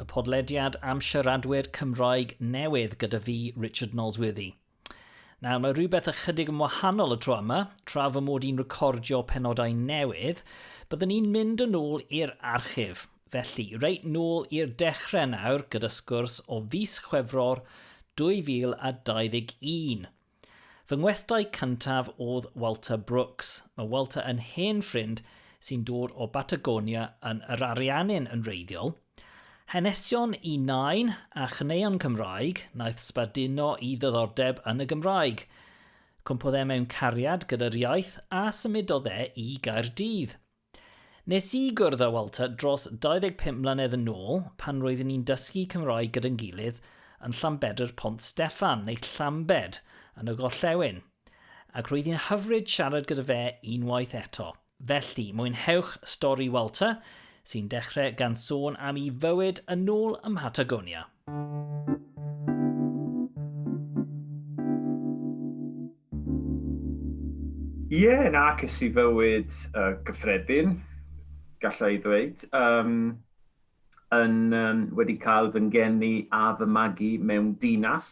y podlediad am siaradwyr Cymraeg newydd gyda fi, Richard Nolsworthy. Nawr, mae rhywbeth ychydig yn wahanol y tro yma, tra fy mod i'n recordio penodau newydd, byddwn ni'n mynd yn ôl i'r archif. Felly, reit nôl i'r dechrau nawr gyda sgwrs o fis Chwefror 2021. Fy ngwestai cyntaf oedd Walter Brooks. Mae Walter yn hen ffrind sy'n dod o Batagonia yn yr Ariannin yn reiddiol. Hanesion i nain a chneuon Cymraeg naeth sbarduno i ddyddordeb yn y Gymraeg. Cwmpodd e mewn cariad gyda'r iaith a symudodd e i Gaerdydd. Nes i gwrdd â Walter dros 25 mlynedd yn ôl pan roeddwn i'n dysgu Cymraeg gyda'n gilydd yn Llanbedr Pont Steffan, neu Llambed, yn y gorllewin, ac roedd hi'n hyfryd siarad gyda fe unwaith eto. Felly, mwynhewch stori Walter, sy'n dechrau gan sôn am 'i fywyd yn ôl ym Mhatagonia. Ie, nac es i fywyd gyffredin, galla i ddweud. Yym, yn yym wedi cael fy ngeni a fy magu mewn dinas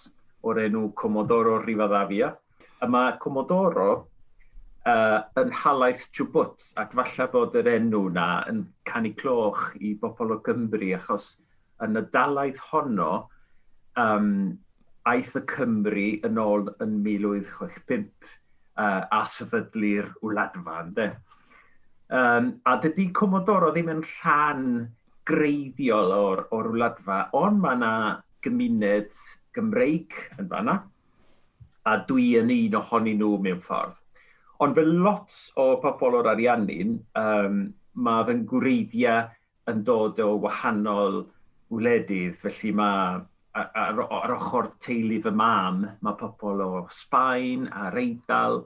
o'r enw Comodoro Rivadavia. A mae Comodoro yy yn nhalaith Chubut, ac falle bod yr enw 'na yn canu cloch i bobl o Gymru, achos Yn y dalaith honno, um, aeth y Cymry yn ôl yn 1865 uh, a sefydlu'r wladfa, ynde? Um, a dydy Comodoro ddim yn rhan greiddiol o'r, or wladfa, ond mae yna gymuned Gymreig yn fanna, a dwi yn un ohonyn nhw mewn ffordd. Ond fel lot o pobl o'r Ariannin, um, mae fy ngwreiddiau yn dod o wahanol wledydd, felly mae ar ar ochr teulu fy mam, mae pobl o Sbaen a'r Eidal,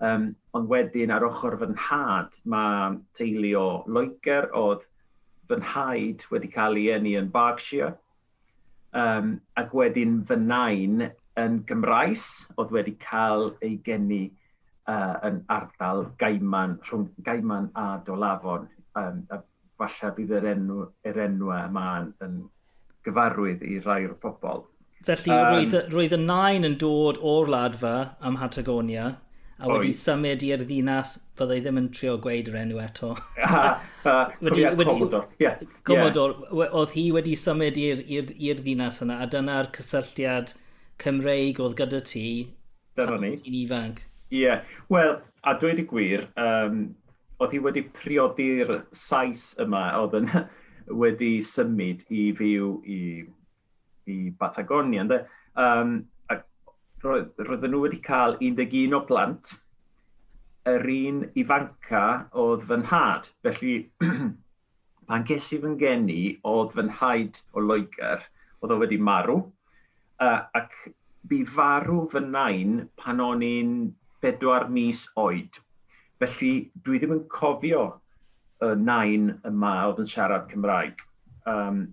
um, ond wedyn ar ochr fy nhad, mae teulu o Loegr oedd fy nhaid wedi cael ei eni yn Berkshire, Um, ac wedyn fy nain yn Gymraes, oedd wedi cael ei geni uh, yn ardal Gaiman, rhwng Gaiman a Dolafon. Um, a falle bydd yr enw, yr enw yma yn, yn gyfarwydd i rai o'r pobol. Felly, um, roedd, roedd y nain yn dod o'r ladfa am Hatagonia, a wedi oed. symud i'r ddinas, fyddai ddim yn trio gweud yr enw eto. wedi, wedi, yeah. Gwybod, yeah. oedd hi wedi symud i'r ddinas yna, a dyna'r cysylltiad Cymreig oedd gyda ti Dyna ni. ti'n ifanc. Ie, yeah. wel, a dweud y gwir, um, oedd hi wedi priodi'r Sais yma, oedd yn wedi symud i fyw i, i Patagonia. Ynddo? Um, ac roedd, roedden nhw wedi cael 11 o plant, yr un ifanca oedd fy nhad. Felly, pan ges i fy ngeni, oedd fy nhaid o Loegr, oedd o wedi marw, uh, ac bu farw fy nain pan o'n i'n bedwar mis oed. Felly, dwi ddim yn cofio y nain yma oedd yn siarad Cymraeg. Um,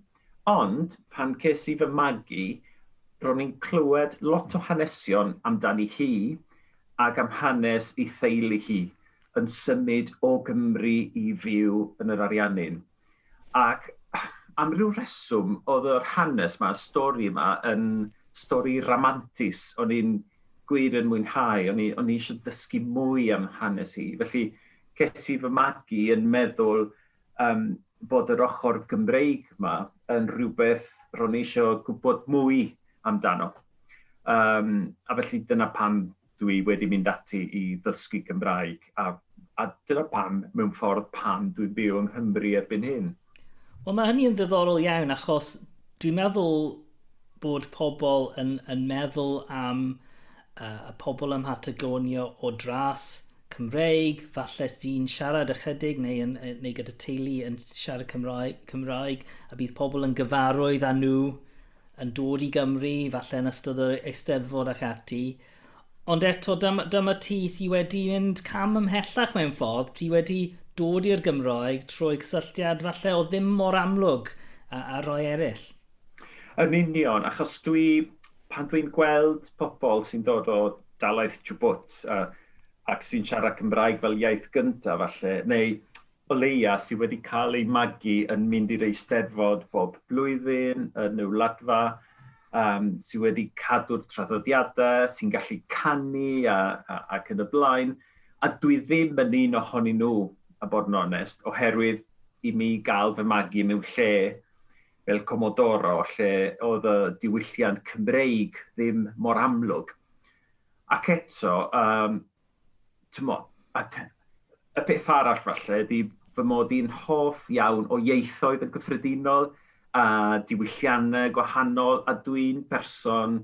Ond pan ces i fy magu, ro'n i'n clywed lot o hanesion amdani hi ac am hanes ei theulu hi yn symud o Gymru i fyw yn yr Ariannin. Ac am ryw reswm oedd yr hanes 'ma, y stori 'ma yn stori ramantus o'n i'n gwir yn mwynhau, o'n i o'n i isio dysgu mwy am hanes hi. Felly ces i fy magu yn meddwl yym bod yr ochr Gymreig 'ma yn rhywbeth ro'n i eisiau gwybod mwy amdano. Um, a felly dyna pam dwi wedi mynd ati i ddysgu Cymraeg a, a dyna pam mewn ffordd pam dwi'n byw yng Nghymru erbyn hyn. Wel mae hynny yn ddiddorol iawn achos dwi'n meddwl bod pobl yn, yn meddwl am uh, y pobl ym Mhatagonia o dras Cymreig, falle sy'n siarad ychydig neu, yn, neu gyda teulu yn siarad Cymraeg, Cymraeg, a bydd pobl yn gyfarwydd â nhw yn dod i Gymru, falle yn ystod yr eisteddfod ac ati. Ond eto, dyma, dyma ti sydd wedi mynd cam ymhellach mewn ffordd, ti wedi dod i'r Gymraeg trwy cysylltiad falle o ddim mor amlwg a, a roi eraill. Yn union, achos dwi... pan dwi'n gweld pobl sy'n dod o dalaith Djibwt a ac sy'n siarad Cymraeg fel iaith gyntaf falle, neu o leia' sy wedi cael eu magu yn mynd i'r Eisteddfod bob blwyddyn yn y Wladfa, yym sy wedi cadw'r traddodiadau, sy'n gallu canu a a ac yn y blaen, a dwi ddim yn un ohonyn nhw, a bod yn onest, oherwydd i mi gael fy magu mewn lle fel Comodoro lle oedd y diwylliant Cymreig ddim mor amlwg. Ac eto, um, tymo, a y peth arall falle ydy fy mod i'n hoff iawn o ieithoedd yn gyffredinol a diwylliannau gwahanol a dwi'n person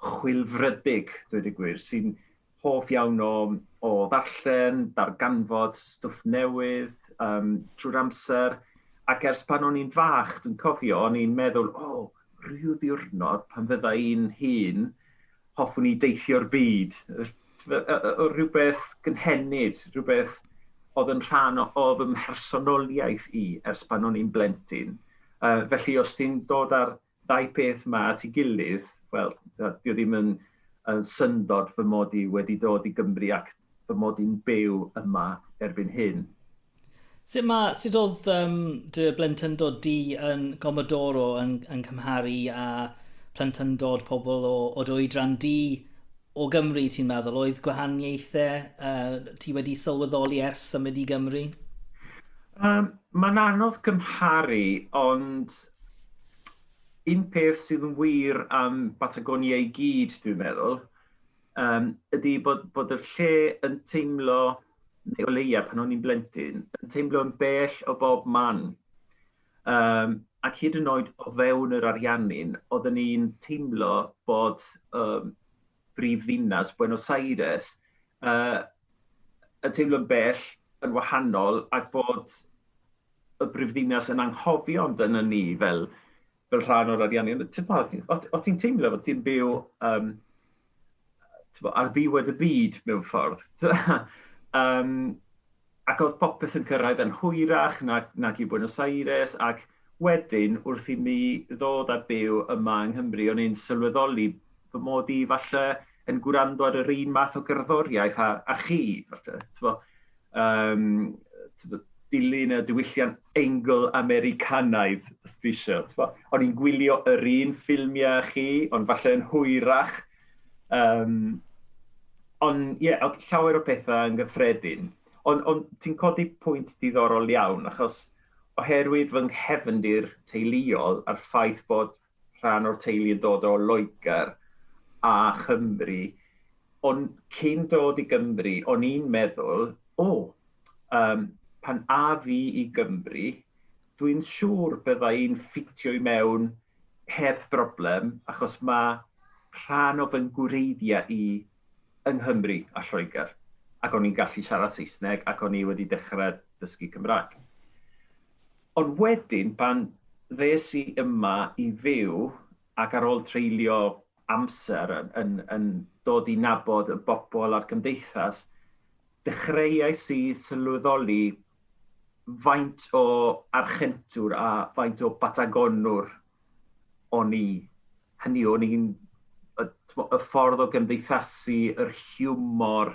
chwilfrydig, dweud y gwir, sy'n hoff iawn o o ddarllen, darganfod stwff newydd yym trwy'r amser ac ers pan o'n i'n fach dwi'n cofio o'n i'n meddwl o ryw ddiwrnod pan fydda i'n hŷn hoffwn i deithio'r byd yy yy yy o rhywbeth gynhenid, rhywbeth oedd yn rhan o o fy mhersonoliaeth i ers pan o'n i'n blentyn. Yy felly os ti'n dod ar Dau peth 'ma at ei gilydd, wel, dio ddim yn syndod fy mod i wedi dod i Gymru ac fy mod i'n byw yma erbyn hyn. Sut ma, sut oedd um, dy blentyndod di yn Gomodoro yn, yn cymharu a plentyndod pobl o, o dy oedran di o Gymru, ti'n meddwl? Oedd gwahaniaethau uh, ti wedi sylweddoli ers symud i Gymru? Um, Mae'n anodd cymharu, ond Un peth sydd yn wir am Batagonia i gyd, dwi'n meddwl, um, ydy bod, bod y lle yn teimlo, neu o leia pan o'n i'n blentyn, yn teimlo yn bell o bob man. Um, ac hyd yn oed o fewn yr ariannin, oedden ni'n teimlo bod um, brif ddinas Buenos Aires uh, yn teimlo'n bell, yn wahanol, ac bod y brifddinas yn anghofio amdano ni fel, fel rhan o'r ariannu. O ti'n teimlo bod ti'n byw um, ar ddiwedd y byd mewn ffordd. um, Ac oedd popeth yn cyrraedd yn hwyrach nag nag i Buenos Aires, ac wedyn, wrth i mi ddod a byw yma yng Nghymru, o'n i'n sylweddoli fy mod i falle yn gwrando ar yr un math o gerddoriaeth â â chi, falle, t'bo', yym, t'bo', dilyn y diwylliant Eingl-Americanaidd, os ti isio, t'bo'. O'n i'n gwylio yr un ffilmiau â chi, ond falle yn hwyrach, Um, ond ie, yeah, llawer o pethau yn gyffredin. Ond on, ti'n codi pwynt diddorol iawn, achos oherwydd fy nghefndir teuluol a'r ffaith bod rhan o'r teulu yn dod o Loegr a Chymru, ond cyn dod i Gymru, o'n i'n meddwl, o, oh, um, pan a fi i Gymru, dwi'n siŵr byddai'n ffitio i mewn heb broblem, achos mae rhan o fy ngwreiddiau i yng Nghymru a Lloegr, ac o'n i'n gallu siarad Saesneg, ac o'n i wedi dechrau dysgu Cymraeg. Ond wedyn, pan ddes i yma i fyw, ac ar ôl treulio amser yn, yn, yn dod i nabod y bobl a'r cymdeithas, dechreuais i sylweddoli Faint o Archentwr a faint o Batagonwr o'n i? Hynny yw, o'n i'n, y, y ffordd o gymdeithasu, yr hiwmor,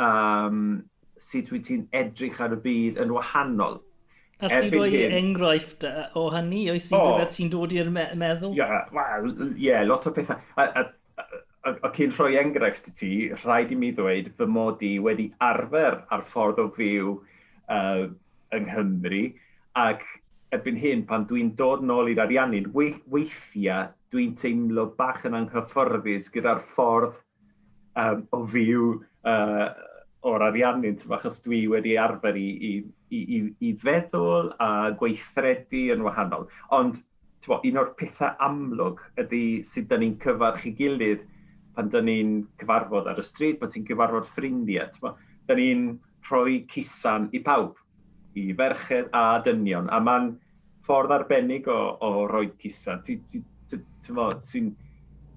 um, sut wyt ti'n edrych ar y byd yn wahanol. A chdi roi hyn, enghraifft o hynny, oes i rhywbeth sy'n dod i'r me meddwl? Ie, yeah, well, yeah, lot o pethau. A, a, a cyn rhoi enghraifft i ti, rhaid i mi ddweud fy mod i wedi arfer ar ffordd o fyw uh, yng Nghymru, ac erbyn hyn, pan dwi'n dod nôl i'r Ariannin, weithiau dwi'n teimlo bach yn anghyfforddus gyda'r ffordd um, o fyw uh, o'r Ariannin, achos dwi wedi arfer i, i, i, i feddwl a gweithredu yn wahanol. Ond Tibod, un o'r pethau amlwg ydy sut da ni'n cyfarch i gilydd pan da ni'n cyfarfod ar y stryd, pan ti'n cyfarfod ffrindiau. Tibod, da ni'n rhoi cusan i pawb, i ferched a dynion, a mae'n ffordd arbennig o, o roi cusan. Ti, ti, ti, ti, ti'n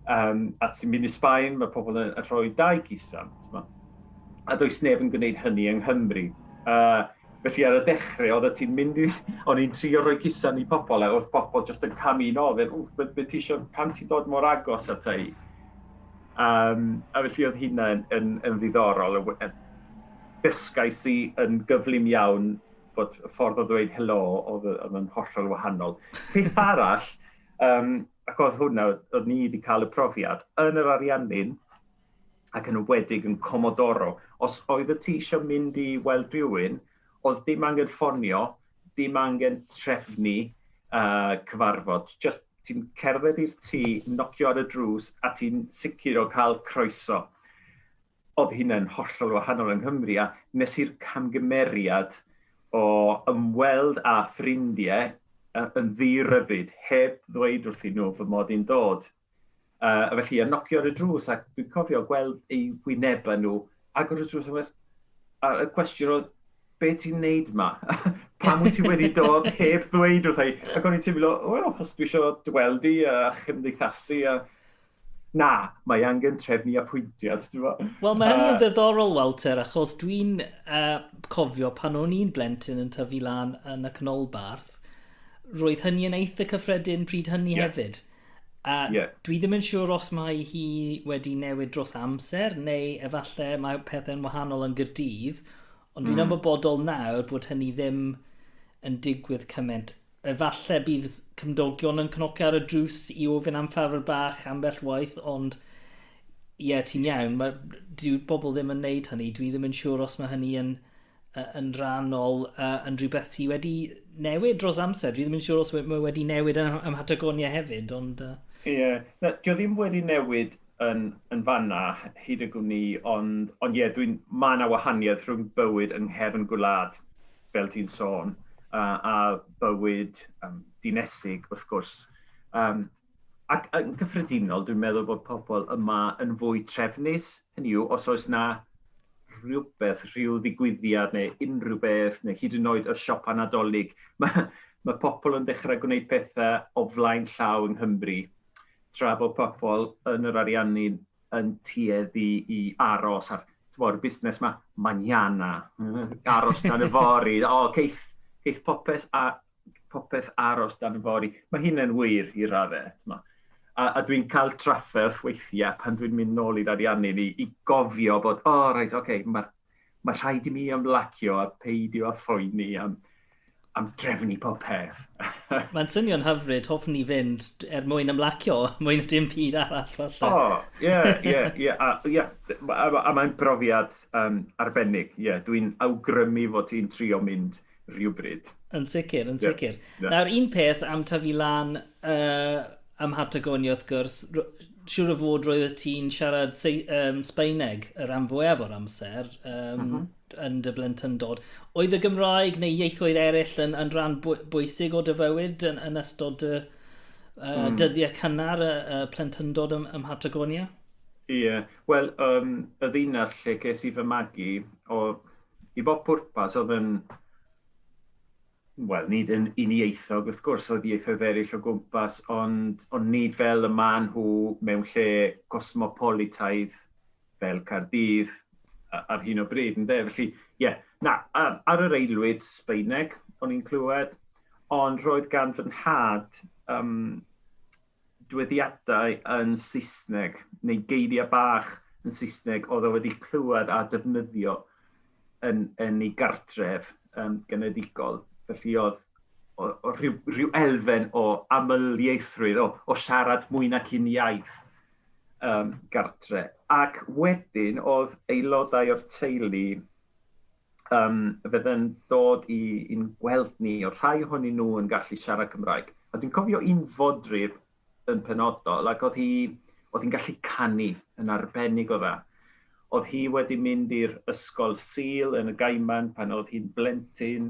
Um, a ti'n mynd i Sbaen, mae pobl yn rhoi dau gisan. A does neb yn gwneud hynny yng Nghymru. Uh, Felly ar y dechre oeddet ti'n mynd i... o'n i'n trio rhoi cusan i pobl a oedd pobl jyst yn camu yn ôl, fel, ww, be ti isio, pam ti'n dod mor agos ata i? Um, a felly oedd hynna yn, yn, yn ddiddorol. Dysgais i yn gyflym iawn bod y ffordd o ddweud helo oedd, oedd yn hollol wahanol. Peth arall, um, ac oedd hwnna, oedd ni wedi cael y profiad, yn yr Ariannin, ac yn enwedig yn Comodoro. Os oeddet ti eisiau mynd i weld rhywun, oedd dim angen ffonio, dim angen trefnu uh, cyfarfod. Just ti'n cerdded i'r tŷ, nocio ar y drws a ti'n sicr o cael croeso. Oedd hynna'n hollol wahanol yng Nghymru a nes i'r camgymeriad o ymweld â ffrindiau yn ddi-rybyd heb ddweud wrthyn nhw fy mod i'n dod. Uh, a felly, a nocio ar y drws, ac dwi'n cofio gweld ei wyneb yn nhw, agor y drws, a, a y cwestiwn oedd, be ti'n neud ma? Pam wyt ti wedi dod heb ddweud wrth ei? Ac o'n i'n teimlo, wel, achos dwi eisiau dweld i a chymdeithasu a... Na, mae angen trefnu apwyntiad. Wel, mae hynny'n uh, ddiddorol, Walter, achos dwi'n uh, cofio pan o'n i'n blentyn yn tyfu lan yn y canolbarth, roedd hynny yn eitha cyffredin pryd hynny yeah. hefyd. A... Ie. ...dwi ddim yn siŵr os mae hi wedi newid dros amser neu efalle mae pethe'n wahanol yn Gyrdydd ond dwi'n... Hmm. ...ymwybodol nawr bod hynny ddim yn digwydd cyment. Efalle bydd cymdogion yn cnocio ar y drws i ofyn am ffafr bach ambell waith ond ie ti'n iawn ma' dyw bobl ddim yn neud hynny dwi ddim yn siŵr os ma' hynny yn yn rhannol uh, yn rhywbeth sydd wedi newid dros amser. Dwi ddim yn siŵr os mae wedi newid yn, ym Mhatagonia hefyd, ond... Ie, uh... yeah. no, dwi ddim wedi newid yn, yn fanna hyd y gwn i, ond, ond ie, dwi'n, mae yna wahaniaeth rhwng bywyd yng nghefn gwlad, fel ti'n sôn, uh, a bywyd um, dinesig, wrth gwrs. Um, Ac yn gyffredinol, dwi'n meddwl bod pobl yma yn fwy trefnus, hynny yw, os oes 'na rhywbeth, rhyw ddigwyddiad neu unrhyw beth, neu hyd yn oed y siopa Nadolig, mae ma pobl yn dechrau gwneud pethau o flaen llaw yng Nghymru, tra bod pobl yn yr ariannu yn tueddu i aros ar, tibod, y busnes ma, mañana, aros tan yfory, o, ceith, ceith popeth a, popeth aros dan y fori. Mae hyn yn wir i raddau. A, a dwi'n cael trafferth weithiau pan dwi'n mynd nôl i'r ariannu i, i gofio bod, o, oh, reit, oce, okay, mae ma rhaid i mi ymlacio a peidio a phoeni am, am drefnu pob peth. Mae'n swnio'n hyfryd, hoffwn ni fynd er mwyn ymlacio, mwyn dim byd arall falle. O, ie, ie, ie, a mae'n brofiad um, arbennig, ie, yeah, dwi'n awgrymu fod ti'n trio mynd rhywbryd. Yn sicr, yn sicr. Yeah, yeah. Nawr, un peth am tyfu lan uh, ym Mhatagonia, wrth gwrs, siwr o fod roedd y ti'n siarad um, Sbaeneg y rhan fwyaf o'r amser um, mm -hmm. yn dy blentyndod. Oedd y Gymraeg neu ieithoedd eraill yn, yn rhan bwysig o dy fywyd yn, yn ystod dy uh, mm. dyddiau cynnar y, y plentyndod ym, ym Mhatagonia? Ie, yeah. wel, um, y ddinas lle ces i fy magu, o, i bob pwrpas, oedd yn, wel, nid yn unieithog, wrth gwrs, oedd ieithoedd eraill o gwmpas, ond, ond nid fel y maen nhw mewn lle cosmopolitaidd fel Cardydd ar hyn o bryd, yn de? Felly, ie, yeah, na, ar yr eilwyd Sbeineg o'n i'n clywed, ond roedd gan fy nhad um, nodweddiadau yn Saesneg neu geiriau bach yn Saesneg oedd o wedi clywed a defnyddio yn, yn ei gartref um, genedigol. Felly oedd o, o rhyw, rhyw elfen o amlieithrwydd, o, o siarad mwy nac un iaith um, gartre. Ac wedyn oedd aelodau o'r teulu um, fydden dod i, i'n gweld ni, o rhai ohonyn nhw yn gallu siarad Cymraeg. A dwi'n cofio un fodryb yn penodol, ac oedd hi, oedd hi'n gallu canu yn arbennig o dda. Oedd hi wedi mynd i'r ysgol Sil yn y Gaiman pan oedd hi'n blentyn,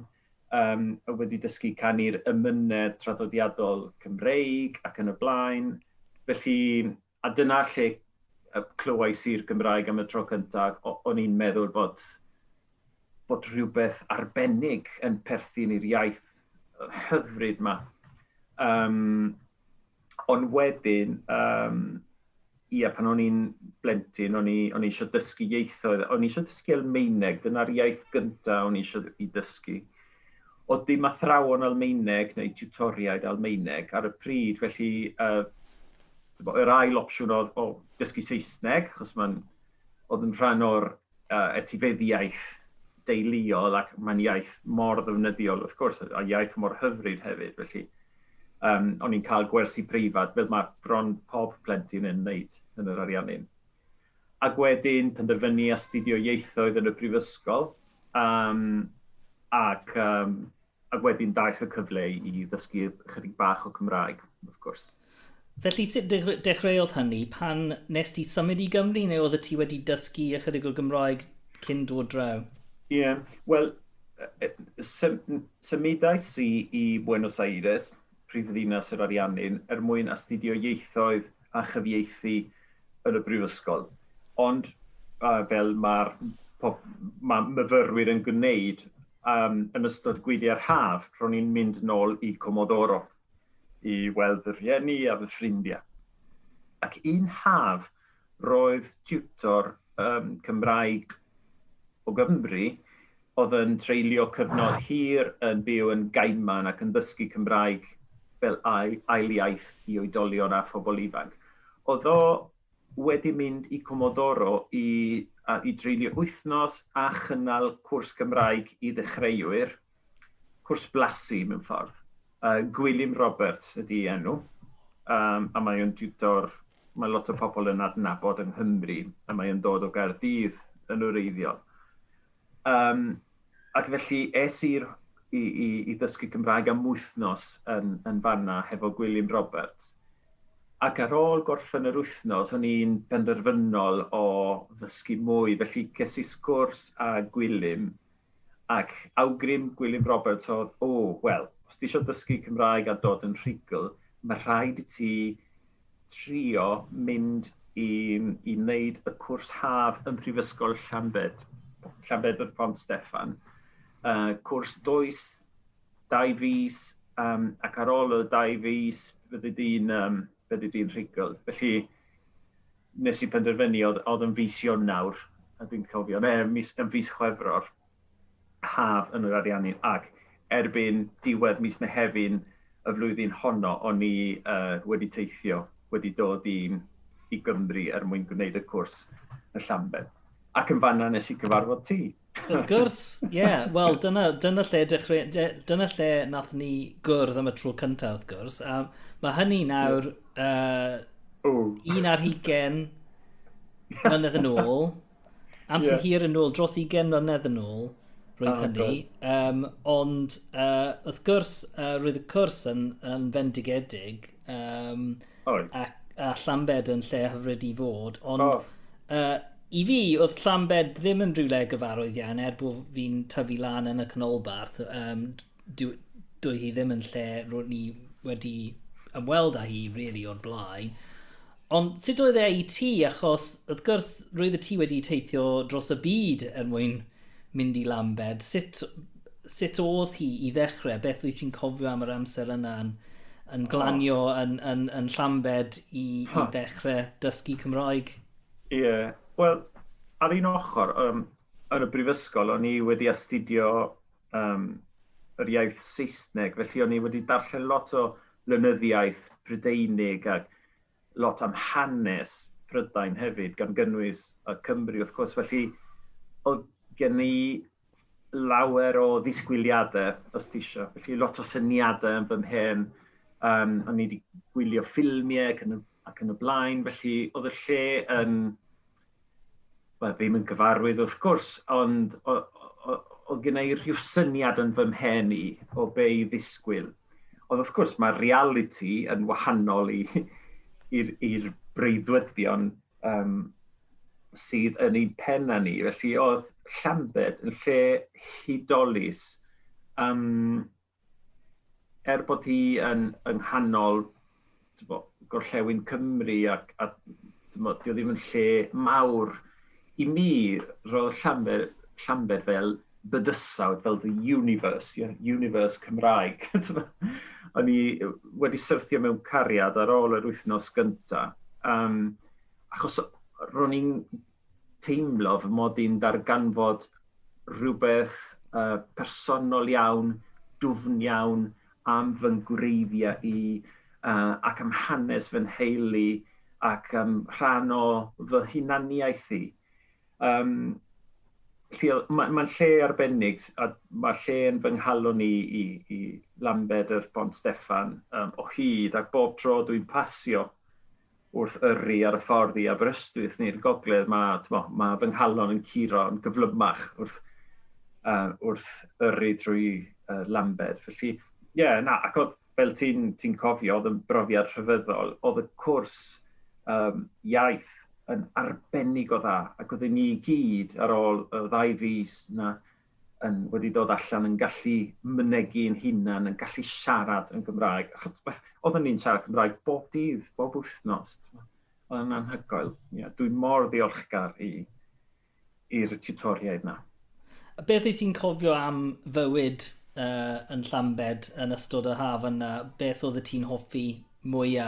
um, a wedi dysgu canu'r ymynedd traddodiadol Cymreig ac yn y blaen. Felly, A dyna lle y clywais i'r Gymraeg am y tro cynta, ac o- o'n i'n meddwl bod bod rhywbeth arbennig yn perthyn i'r iaith hyfryd 'ma. Yym, ond wedyn, yym, ia, pan o'n i'n blentyn, o'n i o'n i isio dysgu ieithoedd. O'n i isio dysgu Almaeneg, dyna'r iaith gynta o'n i isio i dysgu. Oedd dim athrawon Almaeneg neu tiwtoriaid Almaeneg ar y pryd, felly uh, yr ail opsiwn oedd o dysgu Saesneg, achos mae'n oedd yn rhan o'r uh, etifeddiaeth deuluol ac mae'n iaith mor ddefnyddiol wrth gwrs, a iaith mor hyfryd hefyd, felly um, o'n i'n cael gwersi preifat fel mae bron pob plentyn yn wneud yn yr Ariannin. Ac wedyn penderfynu astudio ieithoedd yn y brifysgol yym ac yym ac wedyn daeth y cyfle i ddysgu ychydig bach o Cymraeg wrth gwrs. Felly sut dechreuodd hynny? Pan nes ti symud i Gymru neu oeddet ti wedi dysgu ychydig o Gymraeg cyn dod draw? Ie, wel symudais i i Buenos Aires, prifddinas yr Ariannin, er mwyn astudio ieithoedd a chyfieithu yn y brifysgol, ond uh, fel mae'r mae myfyrwyr yn gwneud um, yn ystod gwyliau'r haf, ro'n i'n mynd nôl i Comodoro i weld fy rhieni a fy ffrindiau. Ac un haf, roedd tutor um, Cymraeg o Gymru oedd yn treulio cyfnod hir yn byw yn Gaiman ac yn ddysgu Cymraeg fel ail iaith i oedolion a phobl ifanc. Oedd o wedi mynd i Comodoro i i dreulio wythnos a chynnal cwrs Cymraeg i ddechreuwyr, cwrs blasu mewn ffordd. Uh, Gwilym Roberts ydy enw, um, a mae o'n diwtor, mae lot o pobl yn adnabod yng Nghymru, a mae o'n dod o Gaerdydd yn wreiddiol. Um, ac felly es i'r i, i, i ddysgu Cymraeg am wythnos yn, yn fanna hefo Gwilym Roberts. Ac ar ôl gorffen yr wythnos, o'n i'n benderfynol o ddysgu mwy, felly ces i sgwrs a Gwilym, ac awgrym Gwilym Roberts oedd, o, oh, wel, os ti eisiau dysgu Cymraeg a dod yn rhugl, mae rhaid i ti trio mynd i, i wneud y cwrs haf ym Mhrifysgol Llanbed, Llanbedr Pont Steffan. Uh, cwrs does, dau fus, um, ac ar ôl y dau fus, fyddi di'n um, fyddi di'n rhugl. Felly, nes i penderfynu, oedd, oedd yn fus Ionawr, a dwi'n cofio, neu mis, yn fus Chwefror, haf yn yr ariannu ac erbyn diwedd mis Mehefin y flwyddyn honno o'n i uh, wedi teithio, wedi dod i, i Gymru er mwyn gwneud y cwrs y Llambed. Ac yn fanna nes i cyfarfod ti. Wrth gwrs, ie. Yeah. Wel, dyna, dyna lle dechrau, de, dyna lle nath ni gwrdd am y tro cyntaf, wrth gwrs. A mae hynny nawr uh, un ar hugen mlynedd yn ôl. Amser yeah. hir yn ôl, dros 20 mlynedd yn ôl, roedd oh, hynny. Um, ond uh, wrth gwrs, uh, roedd y cwrs yn, yn fendigedig. Um, oh. a, a Llambed yn lle hyfryd i fod. Ond oh. uh, i fi, oedd Llambed ddim yn rhywle gyfarwydd iawn, er bod fi'n tyfu lan yn y canolbarth. Um, dwi, dwi hi ddim yn lle roedd ni wedi ymweld â hi, really, o'r blaen. Ond sut oedd e i ti, achos wrth gwrs roeddet ti wedi teithio dros y byd er mwyn mynd i Lambed. Sut, sut oedd hi i ddechrau? Beth wyt ti'n cofio am yr amser yna yn, yn glanio oh. yn, yn, yn Llambed i, huh. i ddechrau dysgu Cymraeg? Ie, yeah. wel, ar un ochr, um, yn y brifysgol, o'n i wedi astudio um, yr iaith Saesneg, felly o'n i wedi darllen lot o lenyddiaeth Brydeinig ac lot am hanes Prydain hefyd, gan gynnwys y Cymry wrth gwrs, felly oedd gen i lawer o ddisgwyliadau, os ti eisiau, felly lot o syniadau yn fy mhen, um, o'n i wedi gwylio ffilmiau ac yn, y, ac yn y blaen, felly oedd y lle yn wel ddim yn gyfarwydd wrth gwrs, ond o- o- oedd gynna i rhyw syniad yn fy mhen i o be i ddisgwyl. Ond wrth gwrs mae'r realiti yn wahanol i i'r i'r breuddwydion um, sydd yn ein pen â ni. Felly oedd Llambed yn lle hudolus um, er bod hi yn yng nghanol tybod, gorllewin Cymru ac, a tybod, dio ddim yn lle mawr i mi, roedd Llanbed, Llanbed fel bydysawd, fel the universe, yeah, universe Cymraeg. O'n i wedi syrthio mewn cariad ar ôl yr wythnos gyntaf, um, achos ro'n i'n teimlo fy mod i'n darganfod rhywbeth yy personol iawn, dwfn iawn am fy ngwreiddiau i yy ac am hanes fy nheulu ac am rhan o fy hunaniaeth i. Yym felly o- ma' ma'n lle arbennig s- a ma' lle yn fy nghalon i i i Lambed yr Pont Steffan yym o hyd a bob tro dwi'n pasio wrth yrru ar y ffordd i Aberystwyth neu'r gogledd, mae, mo, mae fy nghalon yn curo yn gyflymach wrth, uh, wrth yrru drwy uh, Lambed. Felly, ie, yeah, na, ac oedd, fel ti'n ti cofio, oedd yn brofiad rhyfeddol, oedd y cwrs um, iaith yn arbennig o dda, ac oedden ni gyd ar ôl y ddau fus na, yn, wedi dod allan yn gallu mynegi yn hunan, yn gallu siarad yn Gymraeg. Achos oedden ni'n siarad Cymraeg bob dydd, bob wythnos. Oedd yn anhygoel. Yeah, dwi'n mor ddiolchgar i, i'r tutoriaid na. A beth wyt ti'n cofio am fywyd uh, yn Llambed yn ystod y haf yna? Beth oedd y ti'n hoffi Mwya.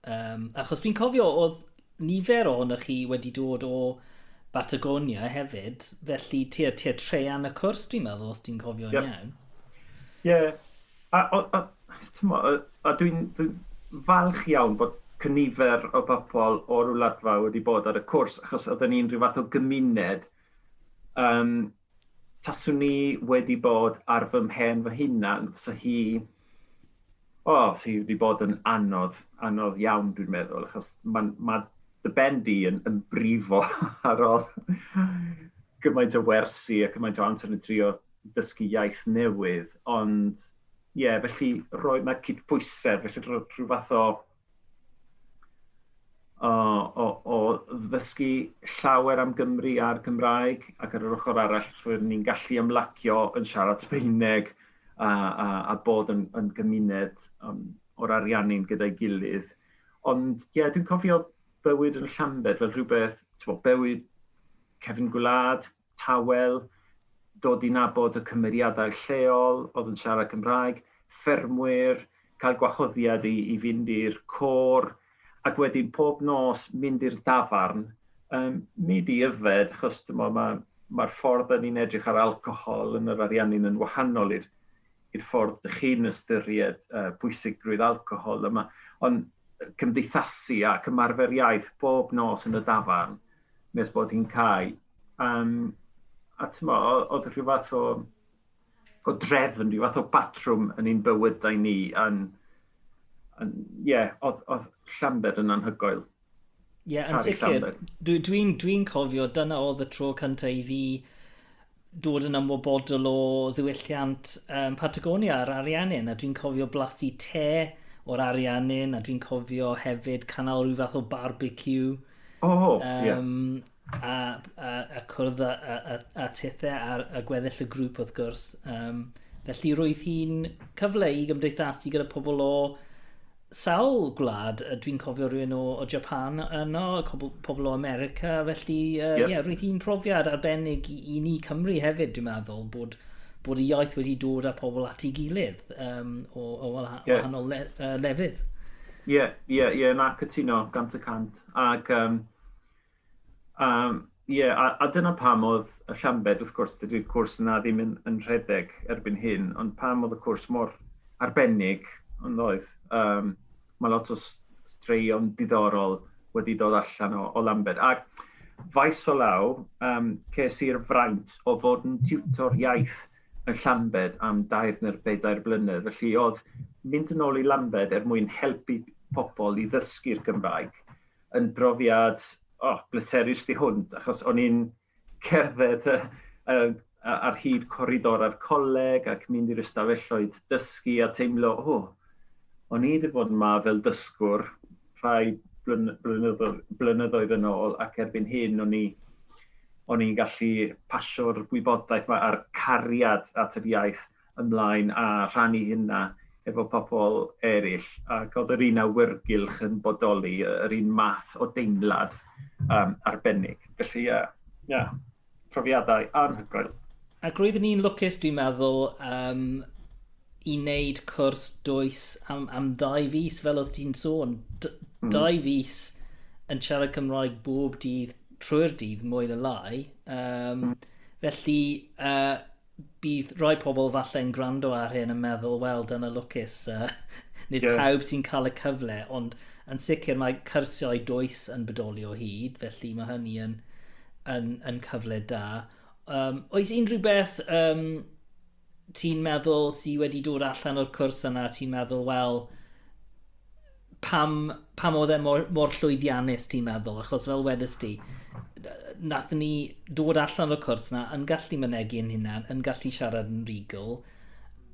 Um, achos dwi'n cofio oedd nifer ohonoch chi wedi dod o Batagonia hefyd, felly tua, tua trean y cwrs, dwi'n meddwl, os dwi'n cofio'n yep. iawn. Ie, yeah. a, a, a, a, a dwi'n dwi falch iawn bod cynifer o bobl o'r wladfa wedi bod ar y cwrs, achos oedden ni'n rhyw fath o gymuned um, taswn i wedi bod ar fy mhen fy hunan, fysa hi... O, fysa hi wedi bod yn anodd, anodd iawn dwi'n meddwl, achos mae ma dy ben di yn, yn brifo ar ôl gymaint o wersi a cymaint o amser yn trio dysgu iaith newydd, ond ie, yeah, felly rhoi, mae cyd pwysedd, felly rhoi rhyw fath o o, o, o ddysgu llawer am Gymru a'r Gymraeg, ac ar yr ochr arall rwy'n ni'n gallu ymlacio yn siarad Sbaeneg a, a, a bod yn, yn gymuned um, o'r Ariannin gyda'i gilydd. Ond ie, yeah, dwi'n cofio bywyd yn Llambed fel rhywbeth, ti'n bod, bywyd cefn gwlad, tawel, dod i nabod y cymeriadau lleol oedd yn siarad Cymraeg, ffermwyr, cael gwahoddiad i i fynd i'r côr, ac wedyn pob nos mynd i'r dafarn, um, nid i yfed, achos dyma mae mae'r ffordd yn ni'n edrych ar alcohol yn yr ariannu'n yn wahanol i'r i'r ffordd dych chi'n ystyried uh, pwysigrwydd alcohol yma, ond cymdeithasu ac ymarfer iaith bob nos yn y dafarn, nes bod hi'n cau. Um, a tyma, oedd rhyw fath o, o drefn, rhyw fath o batrwm yn ein bywydau ni. Yn, yn, yeah, oedd, oedd Llambed yn anhygoel. Ie, yeah, yn sicr. Dwi'n dwi, dwi cofio, dyna oedd y tro cyntaf i fi dod yn ymwybodol o ddiwylliant um, Patagonia a'r Ariannin, a dwi'n cofio blasu te o'r Ariannin, a dwi'n cofio hefyd canol rhyw fath o barbecue. O, oh, um, yeah. A, a, a cwrdd a, a, a, a tithau ar a gweddill y grŵp wrth gwrs. Um, felly roedd hi'n cyfle i gymdeithasu gyda pobl o sawl gwlad yy dwi'n cofio rywun o o Japan yno cobl pobl o America felly yy... Ie. ...ie roedd hi'n profiad arbennig i i ni Cymry hefyd dwi'n meddwl bod bod y iaith wedi dod â pobl at ei gilydd yym o o wala- Ie. wahanol le- yy lefydd. Ie ie ie na cytuno gant y cant ag yym A ie, a, a dyna pam oedd y Llambed, wrth gwrs, dydy'r cwrs yna ddim yn, yn rhedeg erbyn hyn, ond pam oedd y cwrs mor arbennig, ond oedd, um, mae lot o straeon diddorol wedi dod allan o, o Lambed. Ac faes o law, um, ces i'r fraint o fod yn tiwtor iaith yn Llambed am dair neu'r bedair blynedd. Felly oedd mynd yn ôl i Lambed er mwyn helpu pobl i ddysgu'r Gymraeg yn brofiad, o, bleserus tu hwnt, achos o'n i'n cerdded y, y, ar hyd coridor a'r coleg ac mynd i'r ystafelloedd dysgu a teimlo, o, o'n i wedi bod yma fel dysgwr rhai blynyddoedd, blynyddoedd yn ôl ac erbyn hyn o'n i o'n i'n gallu pasio'r gwybodaeth mae a'r cariad at yr iaith ymlaen a rhannu hynna efo pobl eraill, ac oedd yr un awyrgylch yn bodoli, yr un math o deimlad um, arbennig. Felly, ie, yeah, yeah, profiadau anhygoel. Ac roeddwn ni'n lwcus, dwi'n meddwl, um, i wneud cwrs dwys am, am ddau fus, fel oedd ti'n sôn. D mm. Dau fus yn siarad Cymraeg bob dydd trwy'r dydd, mwy na lai. Um, mm. Felly, uh, bydd rhai pobl falle yn gwrando ar hyn yn meddwl, wel, dyna lwcus, uh, nid yeah. pawb sy'n cael y cyfle, ond yn sicr mae cyrsiau does yn bodoli o hyd, felly mae hynny yn, yn, yn cyfle da. Um, oes unrhyw beth um, ti'n meddwl sydd wedi dod allan o'r cwrs yna, ti'n meddwl, wel, pam, pam oedd e mor, mor llwyddiannus ti'n meddwl? Achos fel wedys ti, nath ni dod allan o'r cwrs na yn gallu mynegu yn hunan, yn gallu siarad yn regal.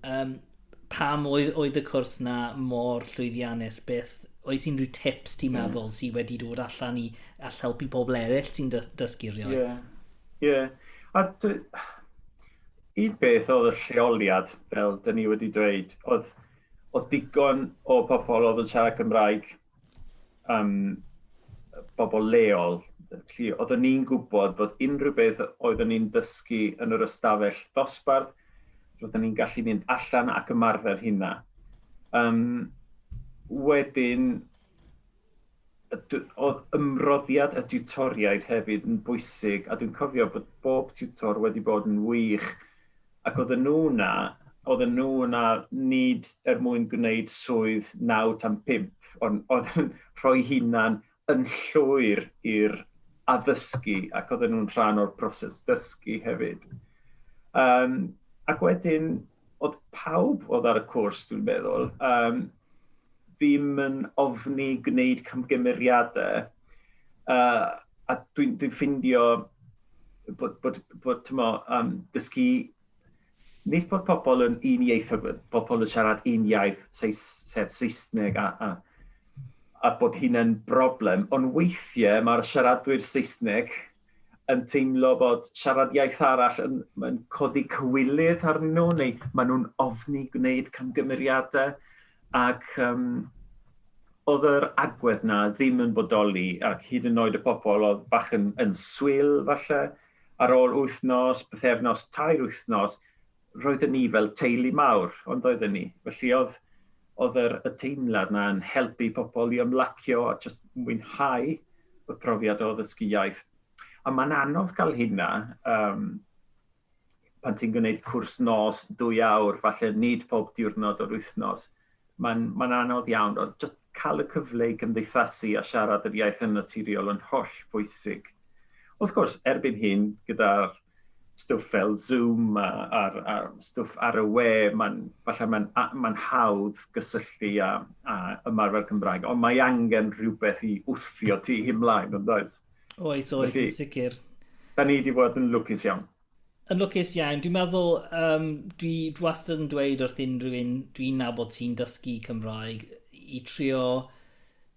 Um, pam oedd, oedd y cwrs na mor llwyddiannus? Beth, oes unrhyw tips ti'n mm. meddwl sydd wedi dod allan i all helpu pobl eraill ti'n dysgu rhywbeth? Ie. Yeah. Yeah. A dwi... Un beth oedd y lleoliad, fel dyn ni wedi dweud, oedd Oedd digon o pobl oedd yn siarad Cymraeg, um, bobl leol, felly oeddwn ni'n gwybod bod unrhyw beth oeddwn ni'n dysgu yn yr ystafell ddosbarth, roeddwn ni'n gallu mynd allan ac ymarfer hynna. Um, wedyn, oedd ymroddiad y tiwtoriaid hefyd yn bwysig, a dwi'n cofio bod bob tiwtor wedi bod yn wych Ac oedden nhw 'na, oedden nhw 'na nid er mwyn gwneud swydd naw tan pump, ond oedd yn rhoi'i hunan yn llwyr i'r addysgu ac oedden nhw'n rhan o'r broses dysgu hefyd. Yym, ac wedyn, oedd pawb oedd ar y cwrs, dwi'n meddwl, yym, ddim yn ofni gwneud camgymeriadau. Uh, a dwi'n dwi ffindio bod, bod, bod tymo, um, dysgu, nid bod pobl yn un iaith, pobl yn siarad un iaith, seis, sef Saesneg, a, a, a bod hyn yn broblem, ond weithiau mae'r siaradwyr Saesneg yn teimlo bod siarad iaith arall yn, yn codi cywilydd arnyn nhw, neu maen nhw'n ofni gwneud camgymeriadau, ac um, oedd yr agwedd na ddim yn bodoli, ac hyd yn oed y pobl oedd bach yn, yn swyl falle, ar ôl wythnos, bythefnos, tair wythnos, roedden ni fel teulu mawr, ond oedden ni. Felly oedd, oedd yr, y teimlad na yn helpu pobl i ymlacio a just mwynhau y profiad o ddysgu iaith. A mae'n anodd cael hynna um, pan ti'n gwneud cwrs nos, dwy awr, falle nid pob diwrnod o'r wythnos. Mae'n, mae'n anodd iawn, ond jyst cael y cyfle i gymdeithasu a siarad yr iaith yn naturiol yn holl bwysig. Wrth gwrs, erbyn hyn, gyda'r stwff fel Zoom a, a, a stwff ar y we, mae'n, falle mae'n, mae'n hawdd gysylltu a, a ymarfer Cymraeg, ond mae angen rhywbeth i wthio ti ymlaen, yn does? Oes, oes, yn sicr. Da ni wedi bod yn lwcus iawn. Yn lwcus iawn. Dwi'n meddwl yym dwi dwi wastad yn dweud wrth unrhyw un dwi'n nabod sy'n dysgu Cymraeg i trio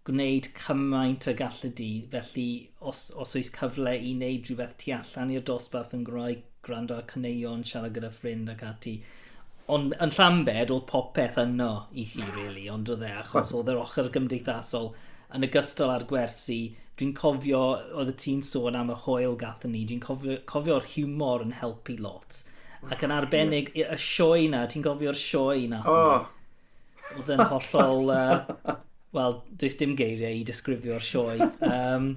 gwneud cymaint y gallu di. Felly os, os oes cyfle i wneud rhywbeth tu allan i'r dosbarth yn Gymraeg, gwrando ar caneuon, siarad gyda ffrind ac ati, Ond yn Llambed, oedd popeth yno i chi, really, ond oedd e, achos oedd yr ochr gymdeithasol yn y gystal â'r gwersi. Dwi'n cofio, oedd y ti'n sôn am y hoel gathon ni, dwi'n cofio'r cofio humor yn helpu lot. Ac yn arbennig, y sioe na, ti'n cofio'r sioe na? Oh. Oedd yn hollol... Uh, Wel, does dim geiriau i disgrifio'r sioe. Um,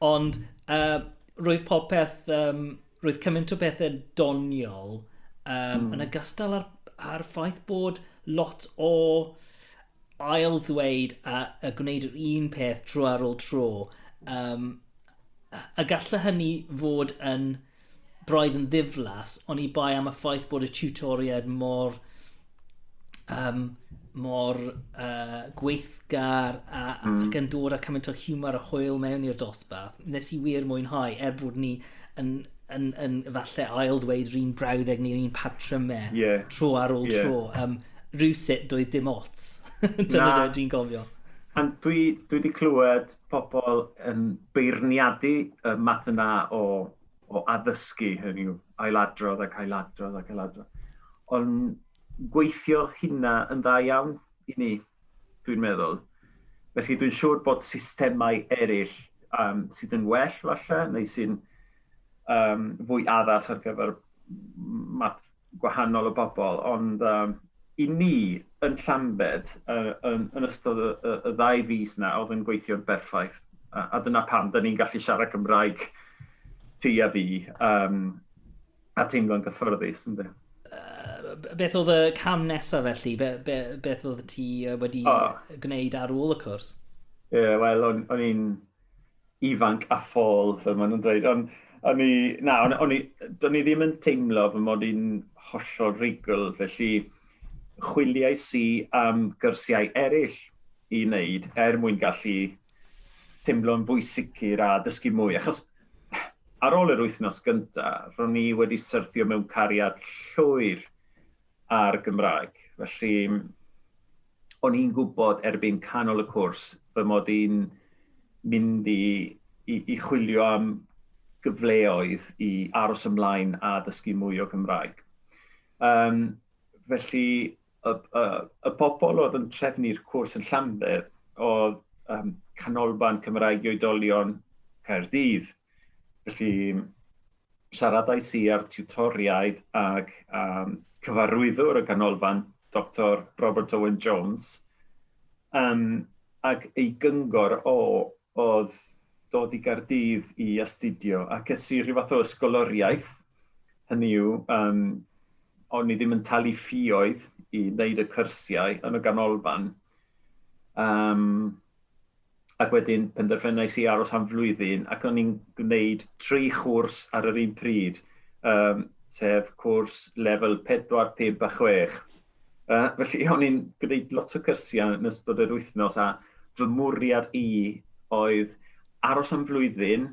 ond uh, roedd popeth... Um, roedd cymaint o bethau doniol um, mm. yn ogystal â'r, ar ffaith bod lot o ail ddweud a, a gwneud yr un peth tro ar ôl tro. Um, a gallai hynny fod yn braidd yn ddiflas, ond i bai am y ffaith bod y tutoriad mor um, mor uh, gweithgar a, mm. ac yn dod â cymaint o humor a hwyl mewn i'r dosbarth, nes i wir mwynhau, er bod ni yn, yn, yn, yn falle ail ddweud rhywun brawddeg neu'r un patrymau e, yeah. tro ar ôl yeah. tro. Um, rhywsut doedd dim ots. Dyna dweud dwi'n gofio. Ond dwi, dwi wedi clywed pobl yn beirniadu y math yna o o addysgu, hynny yw, ailadrodd ac ailadrodd ac ailadrodd. Ond gweithio hynna yn dda iawn i ni, dwi'n meddwl. Felly dwi'n siŵr bod systemau eraill um, sydd yn well falle, neu sy'n um, fwy addas ar gyfer math gwahanol o bobl, ond yym i ni yn Llambed yy yn yn ystod y y y ddau fis 'na o'dd yn gweithio'n berffaith a a dyna pam 'dan ni'n gallu siarad Cymraeg ti a fi yym a teimlo'n gyffyrddus ynde. Yy b- beth o'dd y cam nesa felly? Be- be- beth o'dd ti yy wedi... O. ...gwneud ar ôl y cwrs? Ie wel o'n o'n i'n ifanc a ffôl, fel maen nhw'n dweud, ond o'n i, na, o'n, on i, do'n i ddim yn teimlo fy mod i'n hollol reigl, felly chwiliau si am gyrsiau eraill i wneud er mwyn gallu teimlo'n fwy sicr a dysgu mwy, achos ar ôl yr wythnos gyntaf, ro'n i wedi syrthio mewn cariad llwyr a'r Gymraeg. Felly, o'n i'n gwybod erbyn canol y cwrs fy mod i'n mynd i, i, i chwilio am gyfleoedd i aros ymlaen a dysgu mwy o Gymraeg. Um, felly, y, y, y pobl oedd yn trefnu'r cwrs yn Llanbedd oedd um, Canolfan Cymraeg i Oedolion Caerdydd. Felly, siaradais i â'r tiwtoriaid ac um, cyfarwyddwr y ganolfan, Dr Robert Owen Jones, um, ac ei gyngor o oedd dod i Gardydd i astudio ac es i rhyw fath o ysgoloriaeth, hynny yw, um, o'n i ddim yn talu ffioedd i wneud y cyrsiau yn y ganolfan. Um, ac wedyn penderfynais i aros am flwyddyn ac o'n i'n gwneud tri chwrs ar yr un pryd, um, sef cwrs lefel 4, 5 a 6. Uh, felly o'n i'n gwneud lot o cyrsiau yn ystod yr wythnos a fy mwriad i oedd aros am flwyddyn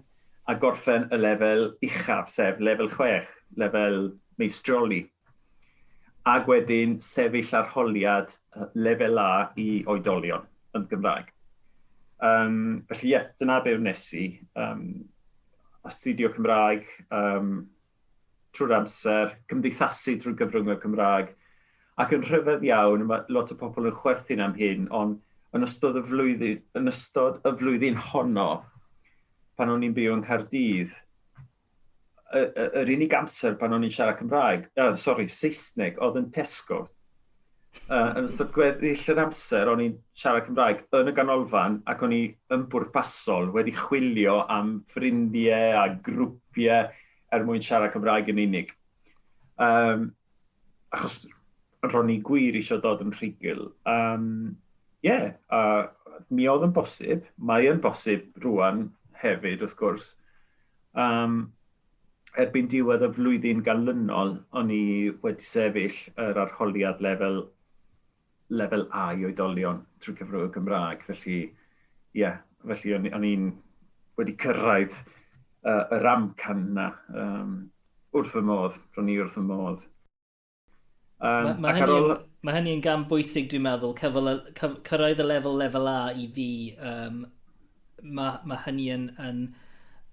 a gorffen y lefel uchaf, sef lefel 6, lefel meistrioli. ac wedyn sefyll arholiad lefel A i oedolion yn Gymraeg. Um, felly ie, yeah, dyna be wnes i. Um, astudio Cymraeg um, trwy'r amser, cymdeithasu drwy gyfrwng y Cymraeg, ac yn rhyfedd iawn, mae lot o pobl yn chwerthin am hyn, ond yn ystod y flwyddyn, yn ystod y flwyddyn honno, pan o'n i'n byw yng Nghaerdydd, yr unig amser pan o'n i'n siarad Cymraeg, uh, sorry, Saesneg, oedd yn Tesco. Uh, yn ystod gweddill yr amser o'n i'n siarad Cymraeg yn y ganolfan ac o'n i yn bwrpasol wedi chwilio am ffrindiau a grwpiau er mwyn siarad Cymraeg yn unig. Um, achos ro'n i gwir eisiau dod yn rhugl. Um, ie, a mi oedd yn bosib, mae yn bosib rwan hefyd wrth gwrs. Um, erbyn diwedd y flwyddyn galynol, o'n i wedi sefyll yr arholiad lefel, lefel A i oedolion trwy cyfrwng y Gymraeg. Felly, ie, yeah, felly o'n i'n wedi cyrraedd uh, yr amcan yna um, wrth fy modd, ro'n i wrth fy modd. Um, mae ma hynny'n ol... ma hynny gam bwysig, dwi'n meddwl, cyfol, cyf, cyrraedd y lefel lefel A i fi. Um, mae ma hynny yn, yn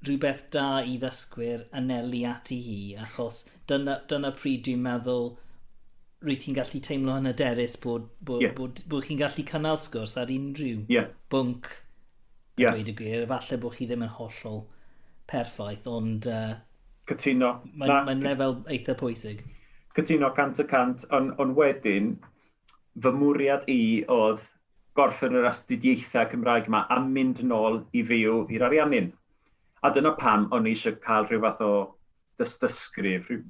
rhywbeth da i ddysgwyr anelu ati hi, achos dyna, dyna pryd dwi'n meddwl rwy ti'n gallu teimlo yn y derys bod, bod, yeah. bod, bod, bod chi'n gallu cynnal sgwrs ar unrhyw yeah. bwnc a yeah. dweud y gwir. Efallai bod chi ddim yn hollol perffaith, ond uh, Cytuno. Mae'n mae lefel eitha pwysig. Cytuno 100 y 100, ond on wedyn, fy mwriad i oedd gorffen yr astudiaethau Cymraeg yma a mynd nôl i fyw i'r Ariannin. A dyna pam o'n i eisiau cael rhyw fath o dystysgrif, rhyw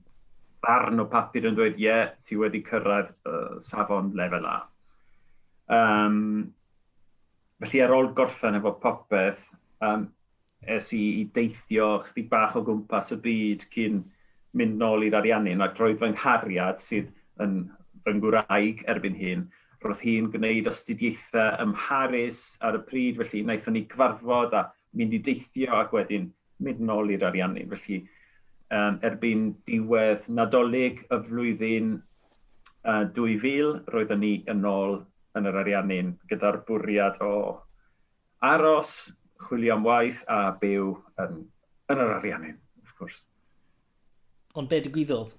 barn o papur yn dweud, ie, yeah, ti wedi cyrraedd uh, safon lefel A. Um, felly ar ôl gorffen efo popeth, um, Es i i deithio chydig bach o gwmpas y byd cyn mynd nôl i'r Ariannin ac roedd fy nghariad, sydd yn fy ngwraig erbyn hyn, roedd hi'n gwneud astudiaethau ym Mharis ar y pryd, felly wnaethon ni gyfarfod a mynd i deithio ac wedyn mynd nôl i'r Ariannin. Felly, um, erbyn diwedd Nadolig y flwyddyn uh, 2000, roeddwn ni yn ôl yn yr Ariannin gyda'r bwriad o Aros, chwilio am waith a byw yn, yn yr Ariannin, wrth gwrs. Ond be digwyddodd?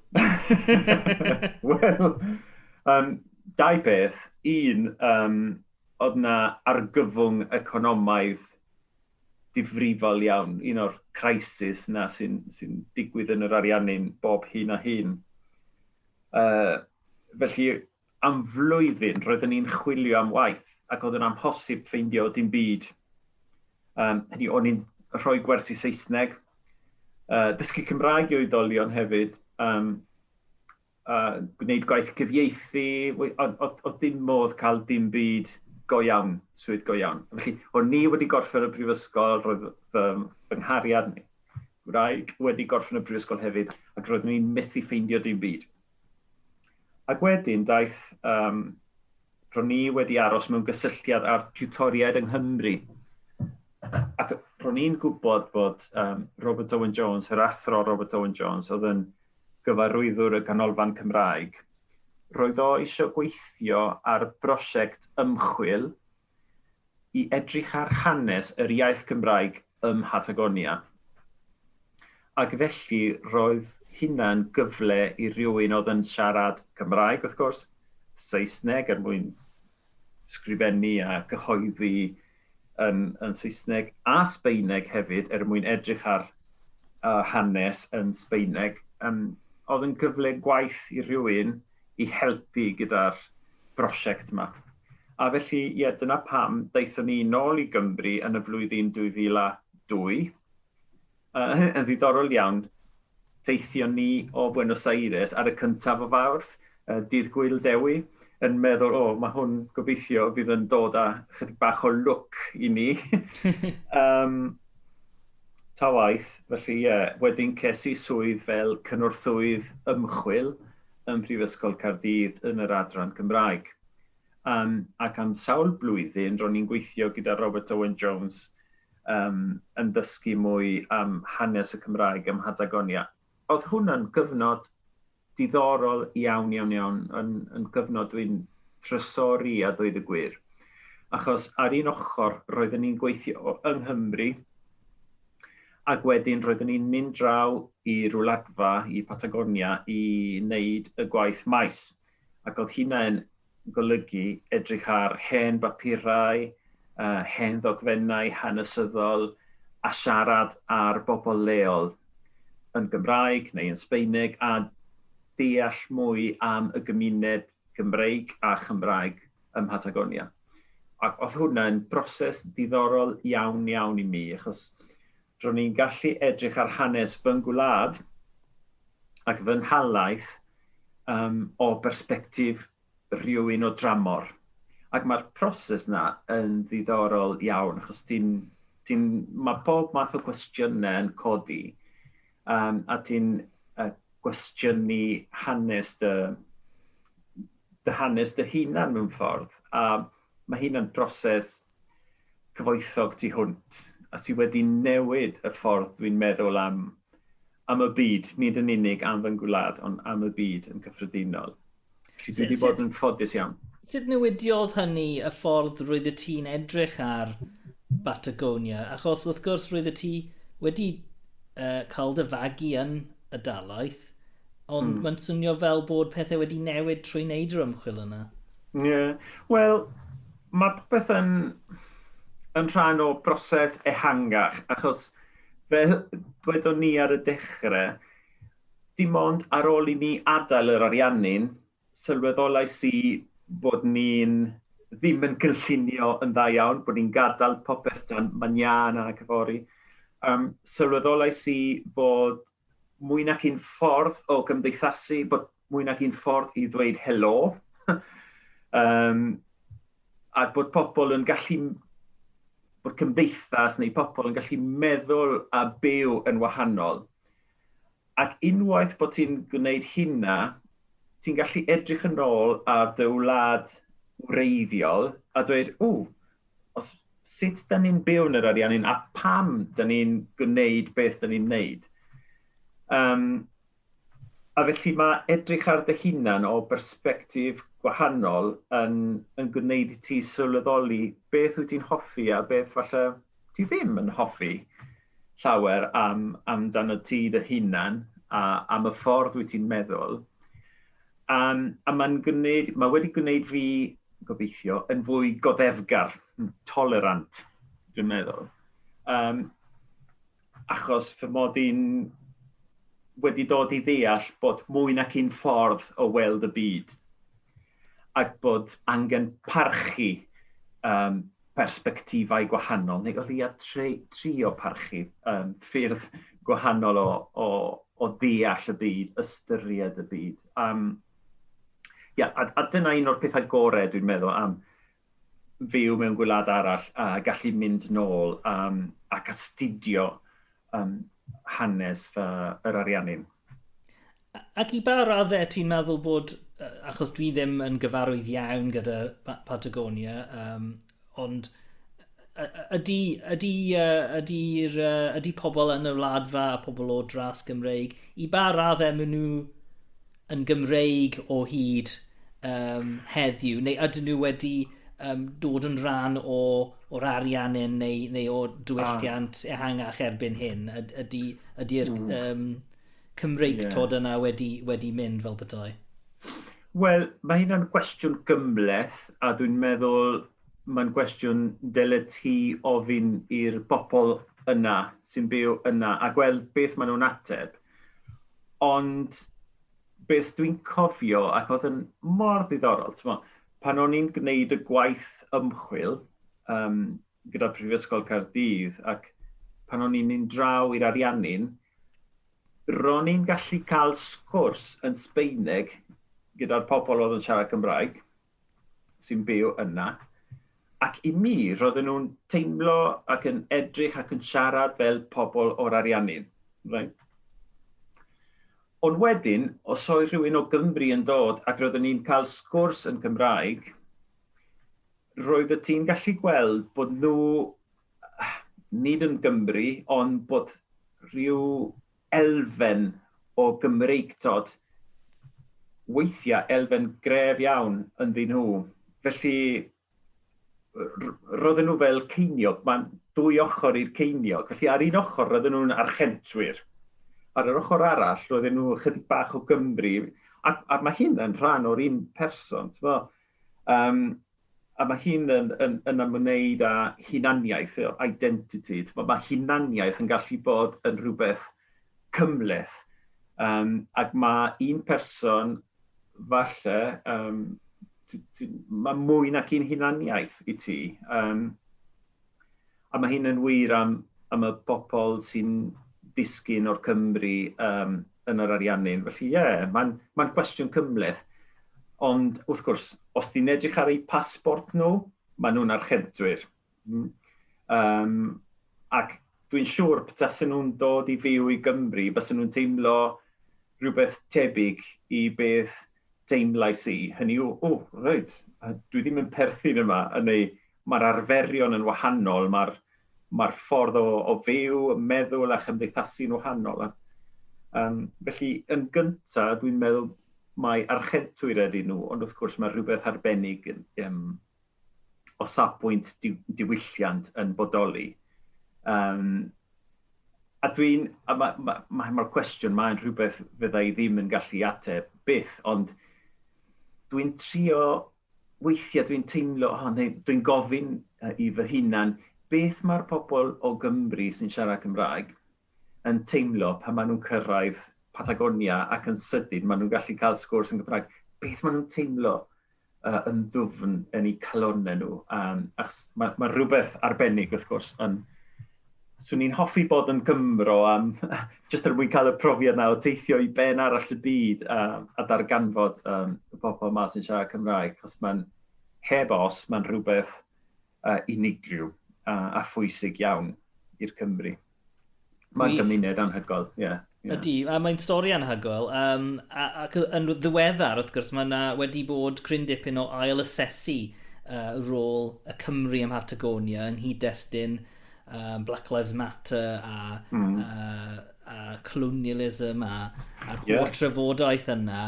Wel, um, dau beth. Un, um, oedd na argyfwng economaidd difrifol iawn, un o'r crisis na sy'n sy digwydd yn yr Ariannin bob hyn a hyn. Uh, felly, Am flwyddyn roeddwn i'n chwilio am waith ac oedd yn amhosib ffeindio dim byd. Um, hynny, o'n i'n rhoi gwersi Saesneg, uh, dysgu Cymraeg i oedolion hefyd, um, uh, gwneud gwaith cyfieithu, oedd dim modd cael dim byd go iawn, swydd go iawn. Felly, o'n ni wedi gorffen y brifysgol, roedd fy, fy nghariad ni, gwraig, wedi gorffen y brifysgol hefyd, ac roeddwn i'n methu ffeindio dim byd. Ac wedyn daeth, um, ro'n ni wedi aros mewn gysylltiad â'r tiwtoriaid yng Nghymru. Ac ro'n i'n gwybod bod um, Robert Owen Jones, yr athro Robert Owen Jones, oedd yn gyfarwyddwr y Ganolfan Cymraeg, roedd o eisiau gweithio ar brosiect ymchwil i edrych ar hanes yr iaith Gymraeg ym Mhatagonia. Ac felly roedd hynna'n gyfle i rywun oedd yn siarad Cymraeg, wrth gwrs, Saesneg er mwyn sgrifennu a gyhoeddi yn, yn Saesneg, a Sbeineg hefyd er mwyn edrych ar uh, hanes yn Sbeineg. Um, oedd yn gyfle gwaith i rywun i helpu gyda'r brosiect yma. A felly, ie, dyna pam daethon ni nôl i Gymru yn y flwyddyn 2002. Yy, yn ddiddorol iawn, teithion ni o Buenos Aires ar y cyntaf o Fawrth, y dydd Gwyl Dewi, yn meddwl, o, mae hwn gobeithio fydd yn dod â chydig bach o lwc i ni. um, ta waith, felly ie, yeah, wedyn ces i swydd fel cynorthwydd ymchwil ym Mhrifysgol Caerdydd yn yr adran Gymraeg. Um, ac am sawl blwyddyn, ro'n i'n gweithio gyda Robert Owen Jones um, yn dysgu mwy am hanes y Cymraeg ym Mhatagonia. Oedd hwnna'n gyfnod diddorol iawn, iawn, iawn, yn, yn gyfnod dwi'n trysori a dweud y gwir. Achos ar un ochr, roeddwn ni'n gweithio yng Nghymru, Ac wedyn roeddwn i'n mynd draw i rwladfa i Patagonia i wneud y gwaith maes. Ac oedd hynna'n golygu edrych ar hen bapurau, hen ddogfennau hanesyddol a siarad â'r bobl leol yn Gymraeg neu yn Sbaeneg a deall mwy am y gymuned Cymreig a Chymraeg ym Mhatagonia. Ac oedd hwnna'n broses diddorol iawn, iawn i mi, achos ro'n i'n gallu edrych ar hanes fy ngwlad ac fy nhalaith um, o bersbectif rhywun o dramor. Ac mae'r proses na yn ddiddorol iawn, achos ti'n, ti'n, mae pob math o gwestiynau yn codi. Yym, a ti'n yy gwestiynu hanes dy dy hanes dy hunan mewn ffordd, a ma' hynna'n broses cyfoethog tu hwnt, a sy wedi newid y ffordd dwi'n meddwl am am y byd, nid yn unig am fy ngwlad, ond am y byd yn gyffredinol. Felly dwi wedi bod yn ffodus iawn. Sut newidiodd hynny y ffordd roedd y ti'n edrych ar Batagonia? Achos wrth gwrs roedd y ti wedi uh, cael dy fagu yn y dalaeth, ond mm. mae'n swnio fel bod pethau wedi newid trwy wneud yr ymchwil yna. Ie, yeah. wel, mae popeth yn, yn rhan o broses ehangach, achos fel dwedon ni ar y dechrau, Dim ond ar ôl i ni adael yr Ariannin, sylweddolais i bod ni'n ddim yn gynllunio yn dda iawn, bod ni'n gadael popeth dan manyân ac yfory. Um, sylweddolais i bod mwy nac un ffordd o gymdeithasu, bod mwy nac un ffordd i ddweud helo, um, a bod pobl yn gallu, bod cymdeithas neu pobl yn gallu meddwl a byw yn wahanol. Ac unwaith bod ti'n gwneud hynna, ti'n gallu edrych yn ôl ar dy wlad wreiddiol a dweud, o, os, sut da ni'n byw yn yr arian hyn a pam da ni'n gwneud beth da ni'n gwneud. Um, a felly mae edrych ar dy hunan o berspektif gwahanol yn, yn gwneud i ti sylweddoli beth wyt ti'n hoffi a beth falle ti ddim yn hoffi. llawer am amdanot ti dy hunan a am y ffordd wyt ti'n meddwl yym a mae'n gwneud, mae wedi gwneud fi, gobeithio, yn fwy goddefgar, tolerant, dwi'n meddwl. Um, achos fy mod i'n wedi dod i ddeall bod mwy nac un ffordd o weld y byd ac bod angen parchu um, persbectifau gwahanol, neu o leiaf trio parchu ffyrdd gwahanol o ddeall y byd, ystyried y byd. A dyna un o'r pethau gorau dwi'n meddwl am fyw mewn gwlad arall a gallu mynd nôl ac astudio um, hanes fy, yr ariannin. Ac i ba raddau ti'n meddwl bod, achos dwi ddim yn gyfarwydd iawn gyda Patagonia, um, ond ydy, ydy, ydy, ydy pobl yn y wladfa a pobl o dras Gymreig, i ba raddau maen nhw yn Gymreig o hyd um, heddiw, neu ydyn nhw wedi um, dod yn rhan o, o'r ariannin neu, neu o diwylliant ah. ehangach erbyn hyn? Ydy'r ydy, mm. um, Cymreig yeah. tod yna wedi, wedi mynd fel bethau? Wel, mae hynna'n gwestiwn gymleth, a dwi'n meddwl mae'n gwestiwn dyle ti ofyn i'r bobl yna sy'n byw yna a gweld beth maen nhw'n ateb. Ond beth dwi'n cofio, ac oedd yn mor ddiddorol, mo, pan o'n i'n gwneud y gwaith ymchwil um, gyda Prifysgol Caerdydd ac pan o'n i'n mynd draw i'r Ariannin, ro'n i'n gallu cael sgwrs yn Sbeineg gyda'r pobl oedd yn siarad Cymraeg, sy'n byw yna, ac i mi, roedden nhw'n teimlo ac yn edrych ac yn siarad fel pobl o'r Ariannin. Right. Ond wedyn, os oedd rhywun o Gymru yn dod ac roeddwn ni'n cael sgwrs yn Cymraeg, roedd y ti'n gallu gweld bod nhw, nid yn Gymru, ond bod rhyw elfen o Gymreictod, weithiau elfen gref iawn ynddyn nhw. Felly, roedden nhw fel ceiniog, mae'n dwy ochr i'r ceiniog. Felly, ar un ochr, roedden nhw'n archentwyr. Ar yr ochr arall, roedden nhw chydig bach o Gymru. Ac, ac mae hyn yn rhan o'r un person. Um, A mae hyn yn, yn, yn ymwneud â hunaniaeth, identity. Mae hunaniaeth yn gallu bod yn rhywbeth cymleth. Um, ac mae un person, falle, um, mae mwy nac un hunaniaeth i ti. Um, A mae hyn yn wir am am y bobl sy'n disgyn o'r Cymry um, yn yr Ariannin. Felly ie, yeah, mae'n ma gwestiwn cymleth. Ond wrth gwrs, os ti'n edrych ar eu pasbort nhw, maen nhw'n archebdwyr. Mm. Um, ac dwi'n siŵr betasen nhw'n dod i fyw i Gymru, bys nhw'n teimlo rhywbeth tebyg i beth teimlais i. Hynny yw, o, oh, reit, dwi ddim yn perthyn yma, yn ei mae'r arferion yn wahanol, mae'r mae'r ffordd o, o fyw, meddwl a chymdeithasu'n wahanol. A, um, felly, yn gyntaf, dwi'n meddwl mae archentwyr ydyn nhw, ond wrth gwrs mae rhywbeth arbennig um, o safbwynt di, diwylliant yn bodoli. Um, a dwi'n, a mae'r ma, ma, ma cwestiwn mae'n rhywbeth fydda i ddim yn gallu ateb byth, ond dwi'n trio Weithiau dwi'n teimlo, o, neu dwi'n gofyn i fy hunan, beth mae'r pobl o Gymru sy'n siarad Cymraeg yn teimlo pan maen nhw'n cyrraedd Patagonia ac yn sydyn maen nhw'n gallu cael sgwrs yn Gymraeg? Beth maen nhw'n teimlo uh, yn ddwfn yn eu calonnau nhw? Um, achos mae, mae rhywbeth arbennig, wrth gwrs, yn swn i'n hoffi bod yn Gymro am jyst er mwyn cael y profiad na o teithio i ben arall y byd a, a darganfod um, y pobl yma sy'n siarad Cymraeg, chos mae'n heb os, mae'n rhywbeth uh, unigryw a, a phwysig iawn i'r Cymru. Mae'n gymuned anhygoel, ie. Yeah. Yeah. Ydy, a mae'n stori anhygoel. Um, ac yn ddiweddar, wrth gwrs, mae yna wedi bod cryn dipyn o ail asesu uh, rôl y Cymru ym Mhartagonia yn hyd destyn uh, Black Lives Matter a, mm. uh, a colonialism a, a'r yeah. holl trafodaeth yna.